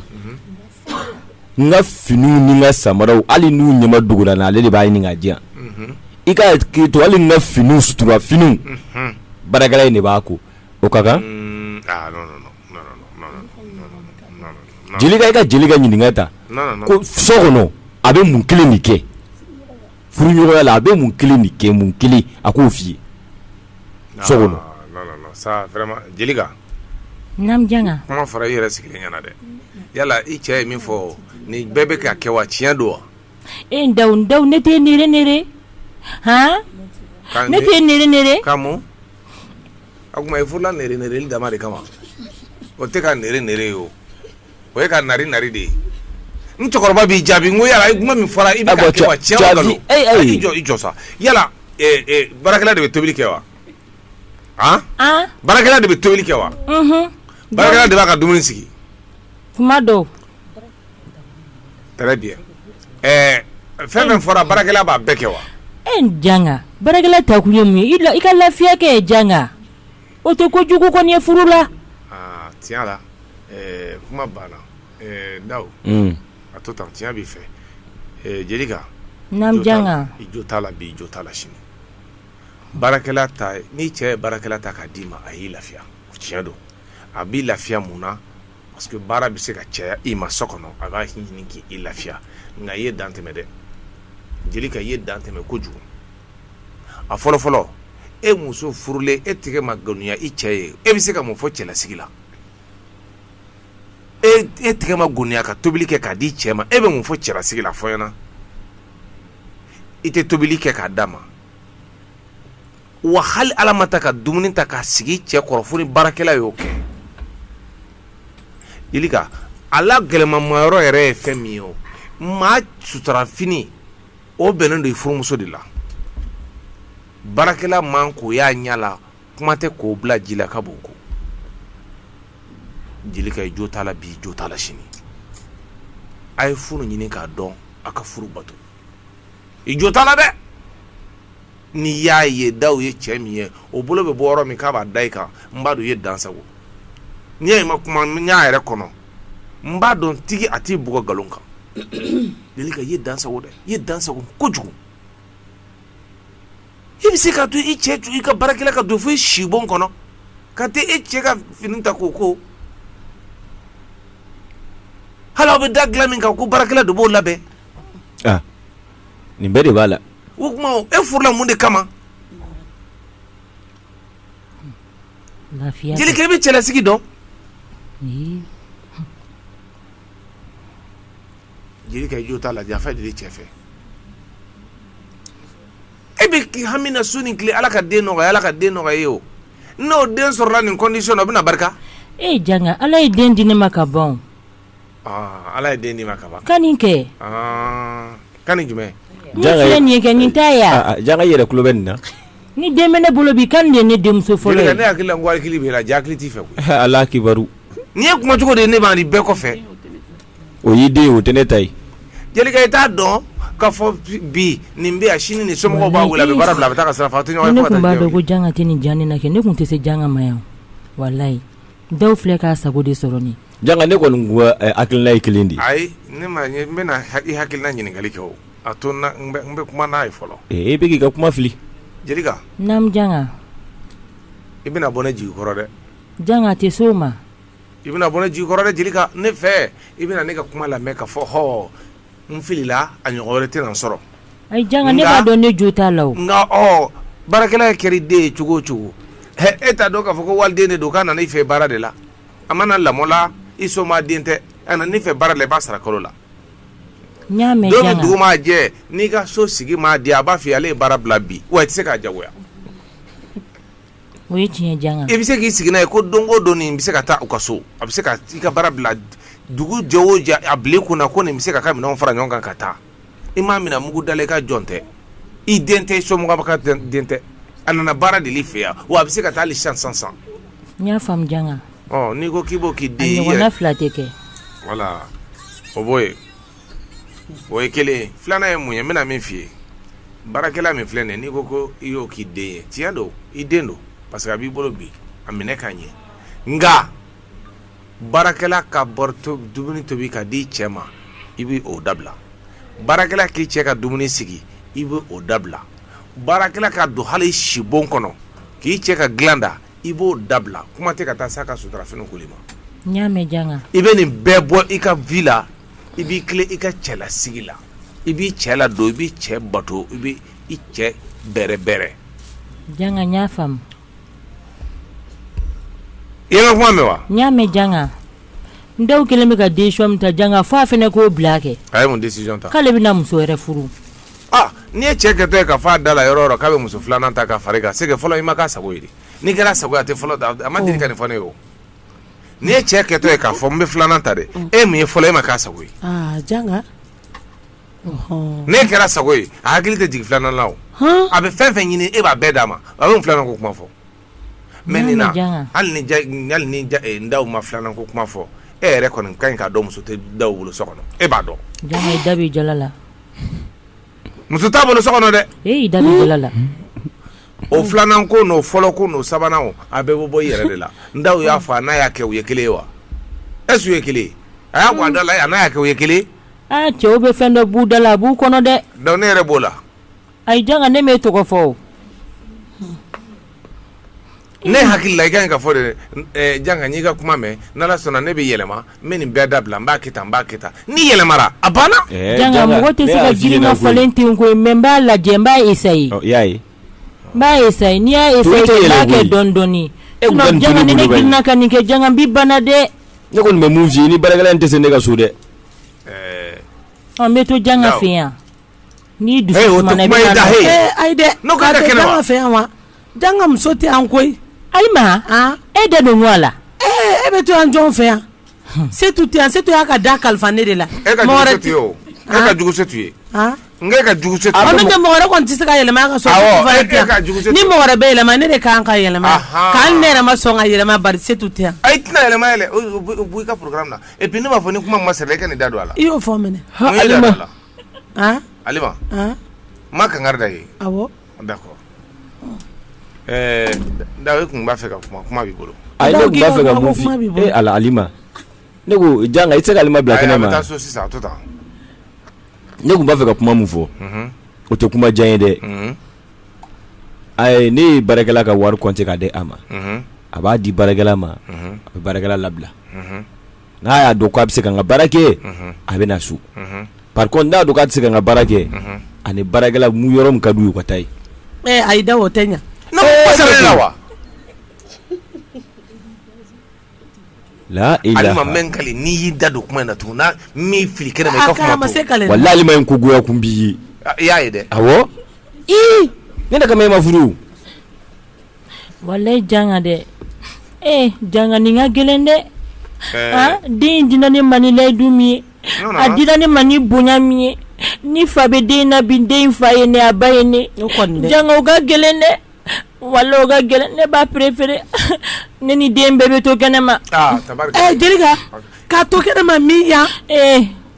C: n ka finiw ni n ka samaraw hali n'u ɲɛmadogola n na ale de b'a ɲini k'a di yan i ka k'i to hali n ka fini sutura fini baarakɛla in de b'a ko o ka kan Jelika i ka Jelika ɲininka ta ko so kɔnɔ a bɛ mun kelen de kɛ furuɲɔgɔnya la a bɛ mun kelen de kɛ mun kelen a k'o f'i ye so kɔnɔ
D: kuma fara i yɛrɛ
E: sigilen ɲɛna dɛ yala i cɛ ye min fɔ nin bɛɛ bɛ ka kɛ wa tiɲɛ don wa e da da
D: ne tɛ han ne tɛ
E: o tuma i furula nare nare li dama de kama o tɛ ka nare nare ye o o ye ka nare nare de ye n cɛkɔrɔba b'i jaabi n ko yala kuma min fɔra i bɛ ka kɛ wa tiɲɛ wa nkalon i jɔ i jɔ sa yala baarakɛla de bɛ tobili kɛ wa han baarakɛla de bɛ tobili kɛ wa baarakɛla de b'a ka dumuni sigi tuma
D: dɔw
E: très bien fɛn min fɔra baarakɛla b'a bɛɛ kɛ wa e
D: janga baarakɛla ta kun ye mun ye i ka lafiya kɛ janga o tɛ ko jugu kɔni ye furu la tiɲɛ la
E: kuma banna dawu a to tan tiɲɛ b'i fɛ
D: jelika i jo t'a la bi i
E: jo t'a la sini baarakɛla ta ni cɛ ye baarakɛla ta k'a d'i ma a y'i lafiya tiɲɛ don a b'i lafiya mun na parce que baara bɛ se ka caya i ma so kɔnɔ a b'a ɲini k'i lafiya nka i ye dan tɛmɛ dɛ jelika i ye dan tɛmɛ kojugu a fɔlɔ fɔlɔ e muso furulen e tɛgɛ ma goniya i cɛ ye e bɛ se ka mun fɔ cɛlasigi la e e tɛgɛ ma goniya ka tobili kɛ k'a d'i cɛ ma e bɛ mun fɔ cɛlasigi la fɔ ɲɛ na i tɛ tobili kɛ k'a d'a ma wa hali ala ma ta ka dumuni ta k'a sigi cɛ kɔrɔ fo ni baarakɛla y'o kɛ jelika ala gɛlɛmamayɔrɔ yɛrɛ ye fɛn min ye o maa suturafini o bɛnnen don i furumuso de la baarakɛla man k'o y'a ɲɛ la kuma tɛ k'o bila ji la ka b'o ko jelika i jo t'a la bi i jo t'a la sini a ye furu ɲini k'a dɔn a ka furu bato i jo t'a la dɛ n'i y'a ye dawu ye cɛ min ye o bolo bɛ bɔ yɔrɔ min k'a b'a da i kan n b'a dɔn i ye dan sago n'i y'a ma kuma n y'a yɛrɛ kɔnɔ n b'a dɔn tigi a t'i bugɔ nkalon kan jelika i ye dan sago dɛ i ye dan sago kojugu i bɛ se ka to i cɛ i ka baarakɛla ka don fo i sibon kɔnɔ ka taa e cɛ ka fini ta k'o ko hali aw bɛ da dilan min kan ko baarakɛla de b'o labɛn
C: ah, nin bɛɛ de b'a la o tuma
E: e furula mun de kama lafiya jelika i bɛ cɛlasigi dɔn jelika i jo t'a la janfa de bɛ cɛ fɛ e bɛ hami na su ni tile ala ka den nɔgɔya ala ka den nɔgɔya ye o n'o den sɔrɔla nin condition na o bɛna barika e janga ala
D: ye den di ne ma ka ban
E: Ala ye den d'i ma
D: ka ban ka
E: nin kɛ ka nin
D: jumɛn kɛ nin tɛ yan janga i yɛrɛ tulo bɛ nin
C: na ni den bɛ ne
D: bolo bi kan nin de ye ne denmuso fɔlɔ ye ne hakili la n ko hakili b'e
E: la jaa hakili t'i fɛ ala kibaru
C: nin ye kuma cogo
E: de ye ne b' nin bɛɛ kɔfɛ o
C: y'i den o tɛ ne ta ye jelika i
E: t'a dɔn k'a fɔ bi nin bɛ yan sini ni somɔgɔw b'a wele a bɛ baara bila a bɛ taa ka sira fɛ a tɛ ɲɔgɔn ye ne tun b'a dɔn ko janga tɛ
D: nin jan na kɛ ne tun tɛ se janga ma yan walayi dawu filɛ k'a sago de sɔrɔ nin Janga ne
C: kɔni ko hakilina ye kelen de ye ayi ne ma
E: n bɛna i hakilina ɲininkali kɛ a to n bɛ kuma n'a ye fɔlɔ ee bɛ k'i ka kuma fili
C: Jelika
E: naamu janga i bɛna bɔ ne jigi kɔrɔ dɛ janga a tɛ s'o
D: ma i bɛna bɔ
E: ne jigi kɔrɔ dɛ Jelika ne fɛ i bɛna ne ka kuma lamɛn ka fɔ h n filila a ɲɔgɔn wɛrɛ tɛna n sɔrɔ ayi janga
D: ne b'a dɔn ne jo t'a la nka ɔ
E: baarakɛla kɛra i den ye cogo o cogo e t'a dɔn k'a fɔ ko waliden de don k'a nana i fɛ baara de la a ma na lamɔ la i soma den tɛ a nana i fɛ baara la i b'a sara kalo
D: la dugu maa jɛ
E: n'i ka so sigi ma diya a b'a fɔ ale ye baara bila bi wa i tɛ se k'a jagoya
D: i bɛ se k'i sigi n'a ye
E: ko don o don nin bɛ se ka taa u ka so a bɛ se ka i ka baara bila dugu jɛ o jɛ a bila i kun na ko nin bɛ se ka k'a ka minɛnw fara ɲɔgɔn kan ka taa i m'a minɛ mugu da la i ka jɔn tɛ i den tɛ i somɔgɔ ka den tɛ a nana baara de l'i fɛ yan wa a bɛ se ka taa hali sisan sisan n y'a faamu
D: janga
E: ɔ
D: n'i ko k'i b'o
E: k'i den
D: yɛrɛ
E: fila
D: tɛ kɛ wala
E: o bɔ yen o ye kelen filanan ye mun ye n bɛna min f'i ye baarakɛla min filɛ nin n'i ko ko i y'o k'i den ye tiɲɛ don i den don parce que a b'i bolo bi a minɛ ka ɲɛ nka baarakɛla ka dumuni tobi k'a di i cɛ ma i bɛ o dabila baarakɛla k'i cɛ ka dumuni sigi i bɛ o dabila baarakɛla ka don hali i sibon kɔnɔ k'i cɛ ka dilan da i b'o dabila kuma tɛ ka taa s'a ka suturafini koli
D: ma n y'a mɛn janga i bɛ nin bɛɛ
E: bɔ i ka vie la i b'i tilen i ka cɛlasigi la i b'i cɛ ladon i b'i cɛ bato i bɛ i cɛ bɛrɛbɛrɛ I ye n ka kuma mɛn wa? n y'a mɛn
D: Janga, Ndaw kɛlen bɛ ka decision min ta Janga fo a fana k'o bila a kɛ, a ye mun decision ta?
E: k'ale bɛna muso wɛrɛ
D: furu, aa n'i ye
E: cɛ kɛtɔ ye ka fɔ a da la yɔrɔ o yɔrɔ k'a bɛ muso filanan ta ka fara i kan c'est que fɔlɔ i ma k'a sago ye de, n'i kɛra a sago ye a tɛ fɔlɔ ta a ma deli ka nin fɔ ne ye o, n'i ye cɛ kɛtɔ ye k'a fɔ n bɛ filanan ta dɛ e min ye fɔlɔ e ma k'a sago ye, aa Janga n'e kɛra a sago ye a hakili tɛ jigin filanan la o a bɛ fɛn fɛn ɲini e b'a bɛɛ d'a ma a bɛ filanan ko kuma fɔ mais nin na hali ni Ndaw ma filanan ko kuma fɔ e yɛrɛ kɔni ka ɲi k'a dɔn muso tɛ Ndaw bolo so kɔnɔ e b'a dɔn da
D: jala
E: la muso t'a bolo so kɔnɔ dɛ e da jala
D: la
E: o filanan ko n'o fɔlɔ ko n'o sabanan a bɛɛ bɛ bɔ i yɛrɛ de la Ndaw y'a fɔ a n'a y'a kɛ u ye kelen ye wa est-ce que u ye kelen ye a y'a bɔ a da la a n'a y'a kɛ u ye kelen Aa cɛw bɛ
D: fɛn dɔ bɔ u da la a b'u kɔnɔ dɛ donc ne yɛrɛ b'o
E: la ayi janga
D: ne m'e tɔgɔ fɔ o
E: ne hakili la i ka ɲi ka fɔ de janga n y'i ka kuma mɛn n'Ala sɔnna ne bɛ yɛlɛma n bɛ nin bɛɛ dabila n b'a kɛ tan n b'a kɛ tan n'i yɛlɛmara a banna, janga mɔgɔ tɛ
D: se ka girin ka falen ten koyi mais n b'a lajɛ n b'a essayer i y'a ye
C: n b'a
D: essayer n'i y'a essayer Tobili tɛ yɛlɛ k'a kɛ koyi. dɔɔni dɔɔni E kun ka nin sinon tulu janga ni ne bolo bɛ girinna ka nin kɛ janga n b'i bana dɛ ne kɔni bɛ min f'i ye
C: ni baarakɛla in tɛ se ne ka so dɛ
D: ɔ n bɛ to janga Daw. fɛ yan n'i dusu Hey, o tɛ sumana i kuma bɛ ye na da, nɔ- hey. Eh, ayi dɛ
A: N'o k'a a ka tɛ kɛnɛ wa? janga fɛ yan wa janga muso tɛ yan koyi Alima
D: e da don ŋo a la e bɛ to yan
A: jɔn fɛ yan setu tɛ se to y'a ka da kalifa ne de la
E: e ka e ka tɛ
A: se ka yɛlɛma ka ni mɔgɔ bɛ yɛlɛma ne de kan ka yɛlɛma ka ne yɛrɛ ma sɔn ka yɛlɛma setu tɛ a i tɛna yɛlɛma yɛlɛ
E: i ka na e ne b'a fɔ ni kuma ma sɛbɛn e ka nin da don a la i y'o fɔ minɛ ma kanga da ye da ɛɛ dawu tun b'a fɛ ka
C: kuma kuma b'i bolo a b'a fɛ ka mun e ala alima ne ko janga i tɛ se ka alima bila kɛnɛ ma a bɛ taa so sisan a to tan ne tun b'a fɛ ka kuma min fɔ o tɛ kuma jan ye dɛ ayi ne ye baarakɛla ka wari compter k'a di a ma a b'a di baarakɛla ma a bɛ baarakɛla labila n'a y'a dɔn k'a bɛ se ka n ka baara kɛ a bɛ na so par contre n'a y'a dɔn k'a tɛ se ka n ka baara kɛ a ni baarakɛla mun yɔrɔ min ka d'u ye u ka taa yen. Ɛɛ ayi Dawu o
A: tɛ ɲɛ. Ee Dawu. Laa
C: ilaah. Alima n bɛ n kali n'i
E: y'i da don kuma in na tugun ni n m'i fili kɛnɛ ma i ka kuma to. Aa kɛ a ma se kale. Walahi Alima ye n ko goya
C: kun b'i ye. I y'a ye dɛ.
E: Awɔ.
C: Ii ne de kama e ma furu o.
D: Walahi janga dɛ ee janga nin ka gɛlɛn dɛ den dina ne ma ni layidu min ye a dina ne ma ni bonya min ye ni fa bɛ den na bi den fa ye ne a ba ye ne janga o ka gɛlɛn dɛ walahi o ka gɛlɛn ne b'a préférer ne ni den bɛɛ bɛ to kɛnɛma jelika
A: ka to kɛnɛma min yan ee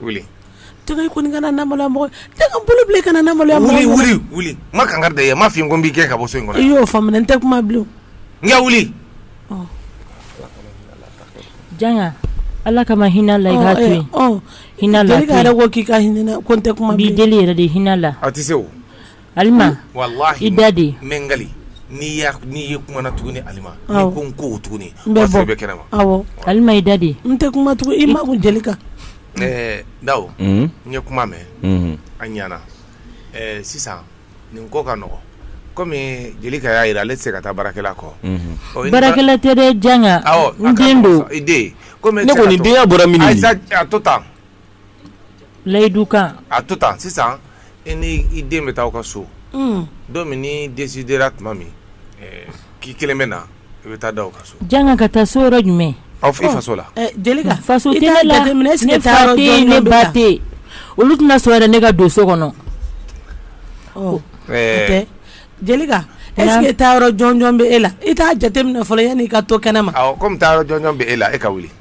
E: wuli
A: janga i kɔni kana n maloya mɔgɔ ye janga n bolo bila kana n maloya mɔgɔ ye wuli wuli wuli n ma kankari
E: da i ye n m'a f'i ye ko n b'i gɛn ka bɔ so in kɔnɔ i y'o faamu dɛ n tɛ kuma
A: bilen o n ka wuli
D: janga ala kama hinɛ a la i k'a to yen hinɛ a la Jelika yɛrɛ ko k'i ka hinɛ
A: ko n tɛ kuma bilen n b'i deli yɛrɛ de hinɛ a la
D: a tɛ se o Alima walahi i da de n
E: bɛ n
D: kali
E: n'i y'a ni e kumana tuguni Alima awɔ n'i ko n ko tuguni n bɛ bɔ o y'a sɔrɔ i bɛ
A: kɛnɛma awɔ
E: Alima i da de
A: n
D: tɛ kuma tugu i
A: makun Jelika ɛɛ
E: Dawu unhun n ye kuma mɛn unhun a ɲana ɛɛ sisan nin ko ka nɔgɔn comme Jelika y'a jira ale tɛ se ka taa baarakɛla kɔ unhun ɔ i ni ba baarakɛla tɛ dɛ
D: Janga awɔ a n ka den don i den comme e tɛ
E: se ka to ne kɔni denya
C: bɔra
E: minni
C: ye ayi sa a to tan
D: layidu kan a to tan
E: sisan i ni i den bɛ taa aw ka so don min n'i desidera tuma min k'i kelen bɛ na i bɛ taa Dawu ka so Janga ka taa so yɔrɔ
D: jumɛn awɔ i faso la Jelika faso tɛ ne la
E: ne
D: fa tɛ ne ba tɛ olu tɛna sɔn yɛrɛ ne ka don so kɔnɔ
A: ɛɛ Jelika est-ce que taa yɔrɔ jɔnjɔn bɛ e la i t'a jateminɛ fɔlɔ yanni i ka to kɛnɛ ma kɔmi taa yɔrɔ jɔnjɔn
E: bɛ e la e ka wuli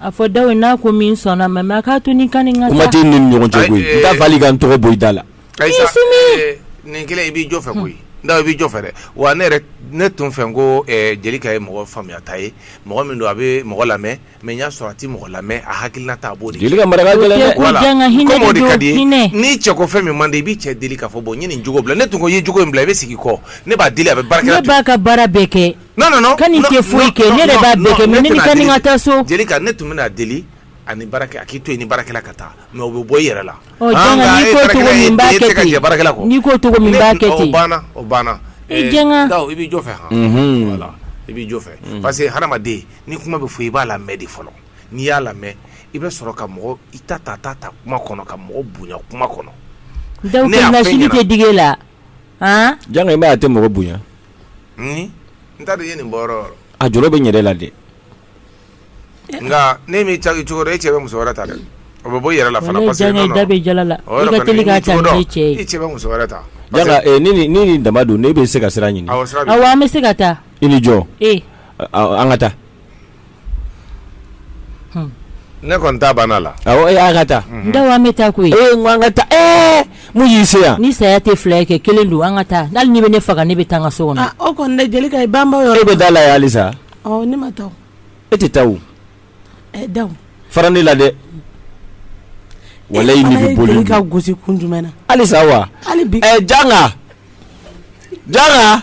D: A fɔ Dawu n'a ko min sɔnna mais a k'a to n ni Kani ka taa kuma t'an ni
C: ɲɔgɔn cɛ koyi n t'a fɛ hali i ka n tɔgɔ bɔ i da
E: la nin kelen i b'i jɔ fɛ koyi Dawu i b'i jɔ fɛ dɛ wa ne ne tun fɛ ko Jelika ye mɔgɔ faamuyata ye mɔgɔ min don a bɛ mɔgɔ lamɛn mais n y'a sɔrɔ a tɛ mɔgɔ lamɛn a hakilinata a b'o de comme o de ka di n'i cɛ ko fɛn min man di i b'i cɛ deli k'a fɔ bon n ye nin jogo bila ne tun ko i ye jogo in bila i bɛ sigi kɔ ne b'a deli a bɛ ka baara bɛɛ kɛ
D: non non non Kani
E: tɛ foyi
D: kɛ ne yɛrɛ b'a bɛɛ kɛ mais ne ni Kani ka taa so Jelika ne tun bɛn'a
E: deli a ni baarakɛ a k'i to yen ni baarakɛla ka taa mais o bɛ bɔ i yɛrɛ la ɔ Janga n'i ko cogo
D: min n b'a kɛ ten n'i ko cogo min n b'a kɛ ten o banna o banna i
E: Janga Dawu i
D: b'i jɔ fɛ
E: han voilà i b'i jɔ fɛ parce que hadamaden ni kuma bɛ fɔ i b'a lamɛn de fɔlɔ n'i y'a lamɛn i bɛ sɔrɔ ka mɔgɔ i ta ta ta ta kuma kɔnɔ ka mɔgɔ bonya kuma kɔnɔ Dawu
D: ka nasili tɛ digi e la han
C: Janga i m'a ye a tɛ mɔgɔ bonya
E: N ye nin bɔ a jɔ bɛ yɛrɛ la dɛ
C: nka
E: ne min ca cogo e cɛ bɛ muso
D: wɛrɛ ta dɛ o bɛ bɔ yɛrɛ la
E: fana parce
C: ni daba don ne bɛ se ka siran ɲini bɛ se ka
E: taa
D: i ni jɔ
C: an ka taa
E: Ne kɔni ta banna la awɔ an ka taa
C: Dawu an bɛ taa koyi
D: n ko an ka
C: taa mun y'i se yan ni saya tɛ fila ye kɛ
D: kelen don an ka taa hali n'i bɛ ne faga ne bɛ taa n ka so kɔnɔ o kɔni Jelika
A: ban yɔrɔ e bɛ dalen yan halisa
C: ne ma
A: taa e
C: tɛ taa o
A: Dawu fara ne
C: la dɛ walayi n'i bɛ boli Jelika gosi kun jumɛn na
A: halisa wa hali
C: bi Janga Janga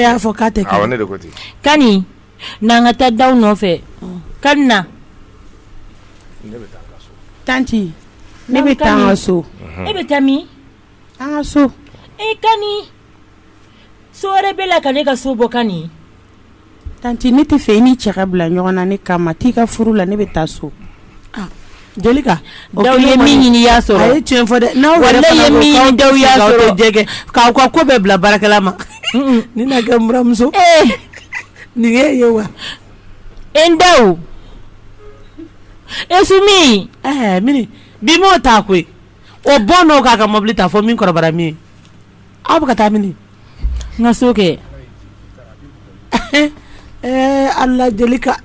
E: y'a fɔ k'a
D: tɛ kɛ Kani n'an ka taa Dawu nɔfɛ Kani na
E: tanti
A: ne bɛ taa n ka so e bɛ
D: taa min an ka
A: so
D: Kani so wɛrɛ b'e la ka ne ka so bɔ ka
A: Tanti ne t'a fɛ i n'i cɛ ka bila ɲɔgɔn na ne kama. T'i ka furu la ne bɛ taa so. Aa Jelika o kɛlen kɔni. Dawu i
D: ye min ɲini i y'a sɔrɔ. A ye tiɲɛ fɔ dɛ.
A: Walayi i ye min ɲini Dawu i y'a
D: sɔrɔ. N'aw yɛrɛ fana ko k'aw tɛ jɛ kɛ jɛgɛ k'aw ka ko
A: bɛɛ bila baarakɛla ma. Unhun nin na kɛ n buranmuso. Ee nin y'e ye wa. E
D: n Dawu e Sumi. Ɛɛ Mini
A: bi m'o ta koyi o bɔ n'o k'a ka mɔbili ta fɔ min kɔrɔbara min ye. Aw bɛ ka taa mini? n ka so kɛ ɛɛ Ala Jelika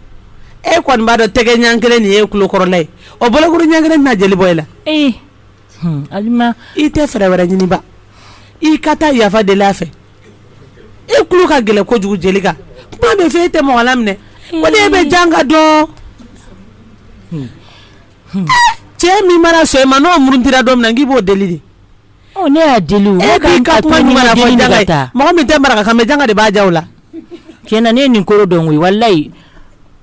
A: e kɔni b'a dɔn tɛgɛ ɲɛ kelen nin ye kulokɔrɔla ye o bolokuru ɲɛ kelen na jeli bɔ i la ee
D: Alima i tɛ fɛɛrɛ
A: wɛrɛ ɲini ba i ka taa yafa deli a fɛ e kulo ka gɛlɛn kojugu Jelika kuma bɛ fɔ e tɛ mɔgɔ laminɛ ko ne bɛ Janga dɔn cɛ min mana sɔn i ma n'o murutira don min na n k'i b'o deli de Ne y'a
D: deli
A: mɔgɔ min tɛ marakanga de b'a jaw la ti ne
D: nin koro dɔn walilayi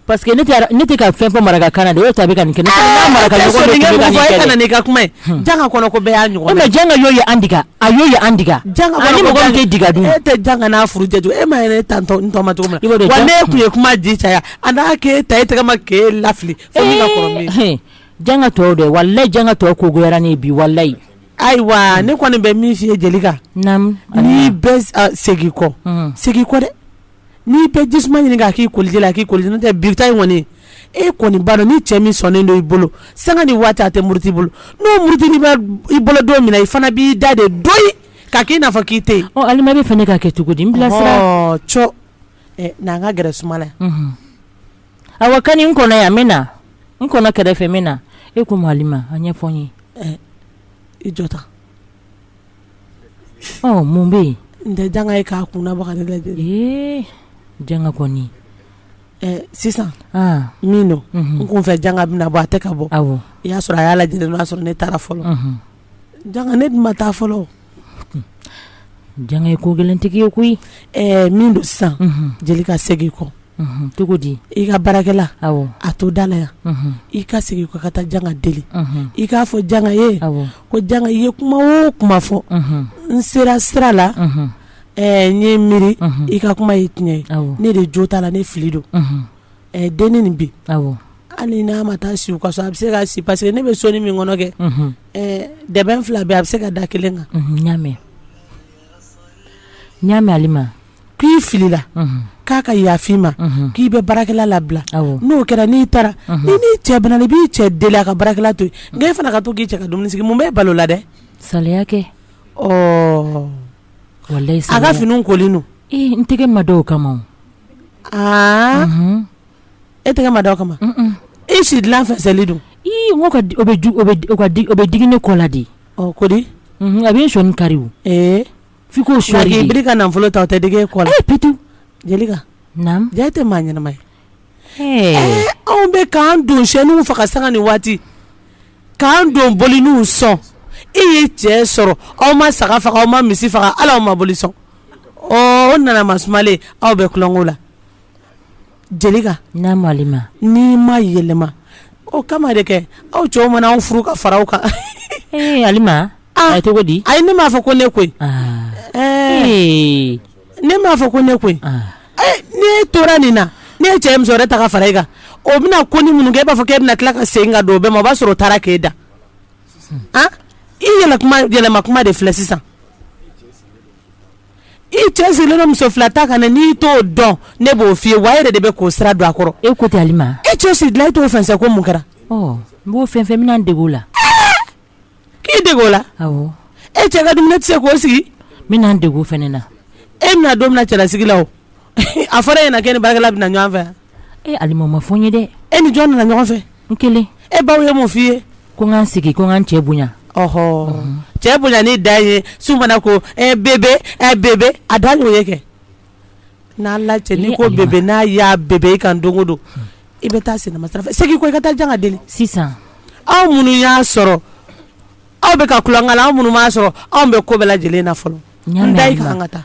D: pa que ne tɛ ka fɛn fɔ maraka kan de ta nin kɛ maraka ka kuma yanga ka ye an dege a y ye an dege tɛga dun e tɛ janga n'a furu jate e ma yɛrɛ tan tun ye kuma di caya a n'a ke ta e tɛgɛ ma ke lafili janga tɔw dɛ wali janga tɔw ko goyara ne bi waliyi Ayiwa ne kɔni bɛ min f'i ye Jelika n'i bɛ segin kɔ segin kɔ dɛ n'i bɛ jisuma ɲini k'a k'i koliji la k'i koliji n'o tɛ bi in kɔni e kɔni b'a dɔn ni cɛ min sɔnnen don i bolo sanga ni waati a tɛ muruti i bolo n'o murutilen i bolo don min na i fana b'i da de doyi k'a k'i n'a fɔ k'i tɛ yen Alima b'a fɛ ne ka kɛ cogo di n bila sira n'an ka gɛrɛ suma la awa ka n kɔnɔ yan min na n kɔnɔ kɛrɛfɛ min na e ko ma Alima a ɲɛfɔ n
A: ye i jɔ ta
D: mun bɛ yen n tɛ janga ye
A: k'a kunna baga lajɛ
D: janga
A: kɔni sisan min don n kun fɛ janga bɛna bɔ a tɛ ka bɔ i y'a sɔrɔ a y'a lajɛ n'o y'a sɔrɔ ne taara fɔlɔ Janga ne dun ma taa fɔlɔ
D: Janga ye ko gɛlɛntigi ye koyi ɛɛ min
A: don sisan Jelika segin kɔ cogo di
D: i ka
A: baarakɛla to da la yan i ka segin kɔ ka taa janga deli i k'a fɔ janga ye ko janga i ye kuma o kuma fɔ n sera sira la ɛɛ n ye miiri i ka kuma ye tiɲɛ ye ne de jo t'a la ne fili don ɛ denni nin bi, awɔ, hali n'a ma taa si u ka so a bɛ se ka si parce que ne bɛ sonin min kɔnɔ kɛ, unhun, ɛ dɛbɛn fila bɛ yen a bɛ se ka da kelen kan, unhun, n y'a mɛn,
D: n y'a mɛn Alima, k'i filila,
A: unhun, k'a ka yafa i ma, unhun, k'i bɛ baarakɛla labila, awɔ, n'o kɛra n'i taara, unhun, i n'i cɛ bɛnna i b'i cɛ deli a ka baarakɛla to yen, nk'e fana ka to k'i cɛ ka dumuni sigi mun b'e bali o la dɛ, saliya kɛ,
D: ɔɔ, walayi, a ka finiw kolen
A: don, ee n tɛgɛ ma da o
D: kama o
A: aa e tɛgɛ ma da o kama e si dilan fɛnsɛlen
D: don n ko o bɛ digi ne kɔ la de ko di
A: a bɛ sɔn
D: kari f'i ko su ka nafolo ta o tɛ
A: digi e kɔ la ptu Jelika ja tɛ maa ɲɛnama ye anw bɛ k'an dɔnseninw faga sanga ni waati K'an don boliniw sɔn e ye cɛ sɔrɔ aw ma saga faga aw ma misi faga ala aw ma boli sɔn o nana masumalen aw bɛ tulonkɛ la Jelika Alima
D: n'i
A: ma yɛlɛma o kama de kɛ aw cɛw mana anw furu ka fara aw kan a
D: cogo di ayi ne m'a fɔ ko ne koyi
A: ne m'a fɔ ko ne koyi ne tora nin na ne ye cɛ muso wɛrɛ ta ka fara e kan o bɛna ko ni minnu kɛ e b'a fɔ e bɛna tila ka segin ka don o bɛɛ ma o b'a sɔrɔ o taara k'e da i yɛlɛma kuma de filɛ sisan i cɛ sigilen don muso fila ta kan n'i t'o dɔn ne b'o f'i ye wa e yɛrɛ de bɛ k'o sira don a kɔrɔ e ko tɛ Alima e
D: cɛ sigi dilan e t'o fɛn
A: ko mun kɛra n b'o
D: fɛn fɛn min dege o la
A: k'i dege o la e cɛ ka dumuni tɛ se k'o sigi n bɛna n dege o fana
D: na e bɛna don min
A: cɛlasigi la o a fɔra e ɲɛna k'e ni baarakɛla bɛna ɲɔgɔn fɛ e Alima o ma fɔ n ye dɛ
D: e ni jɔn nana ɲɔgɔn fɛ
A: n kelen e
D: baw ye mun f'i ye
A: ko n ka n sigi ko n
D: ka n cɛ bonya ɔhɔ cɛ
A: bonyani dan ye su mana ko ɛ bebe ɛ bebe a dan y'o ye kɛ N'a la cɛ n'i ko bebe n'a y'a bebe e kan don o don i bɛ taa sinima sira fɛ segin ko i ka taa jan ka deli sisan
D: aw
A: minnu y'a sɔrɔ aw bɛ ka kulankan aw minnu m'a sɔrɔ anw bɛ ko bɛɛ lajɛlen na fɔlɔ n da i kan ka taa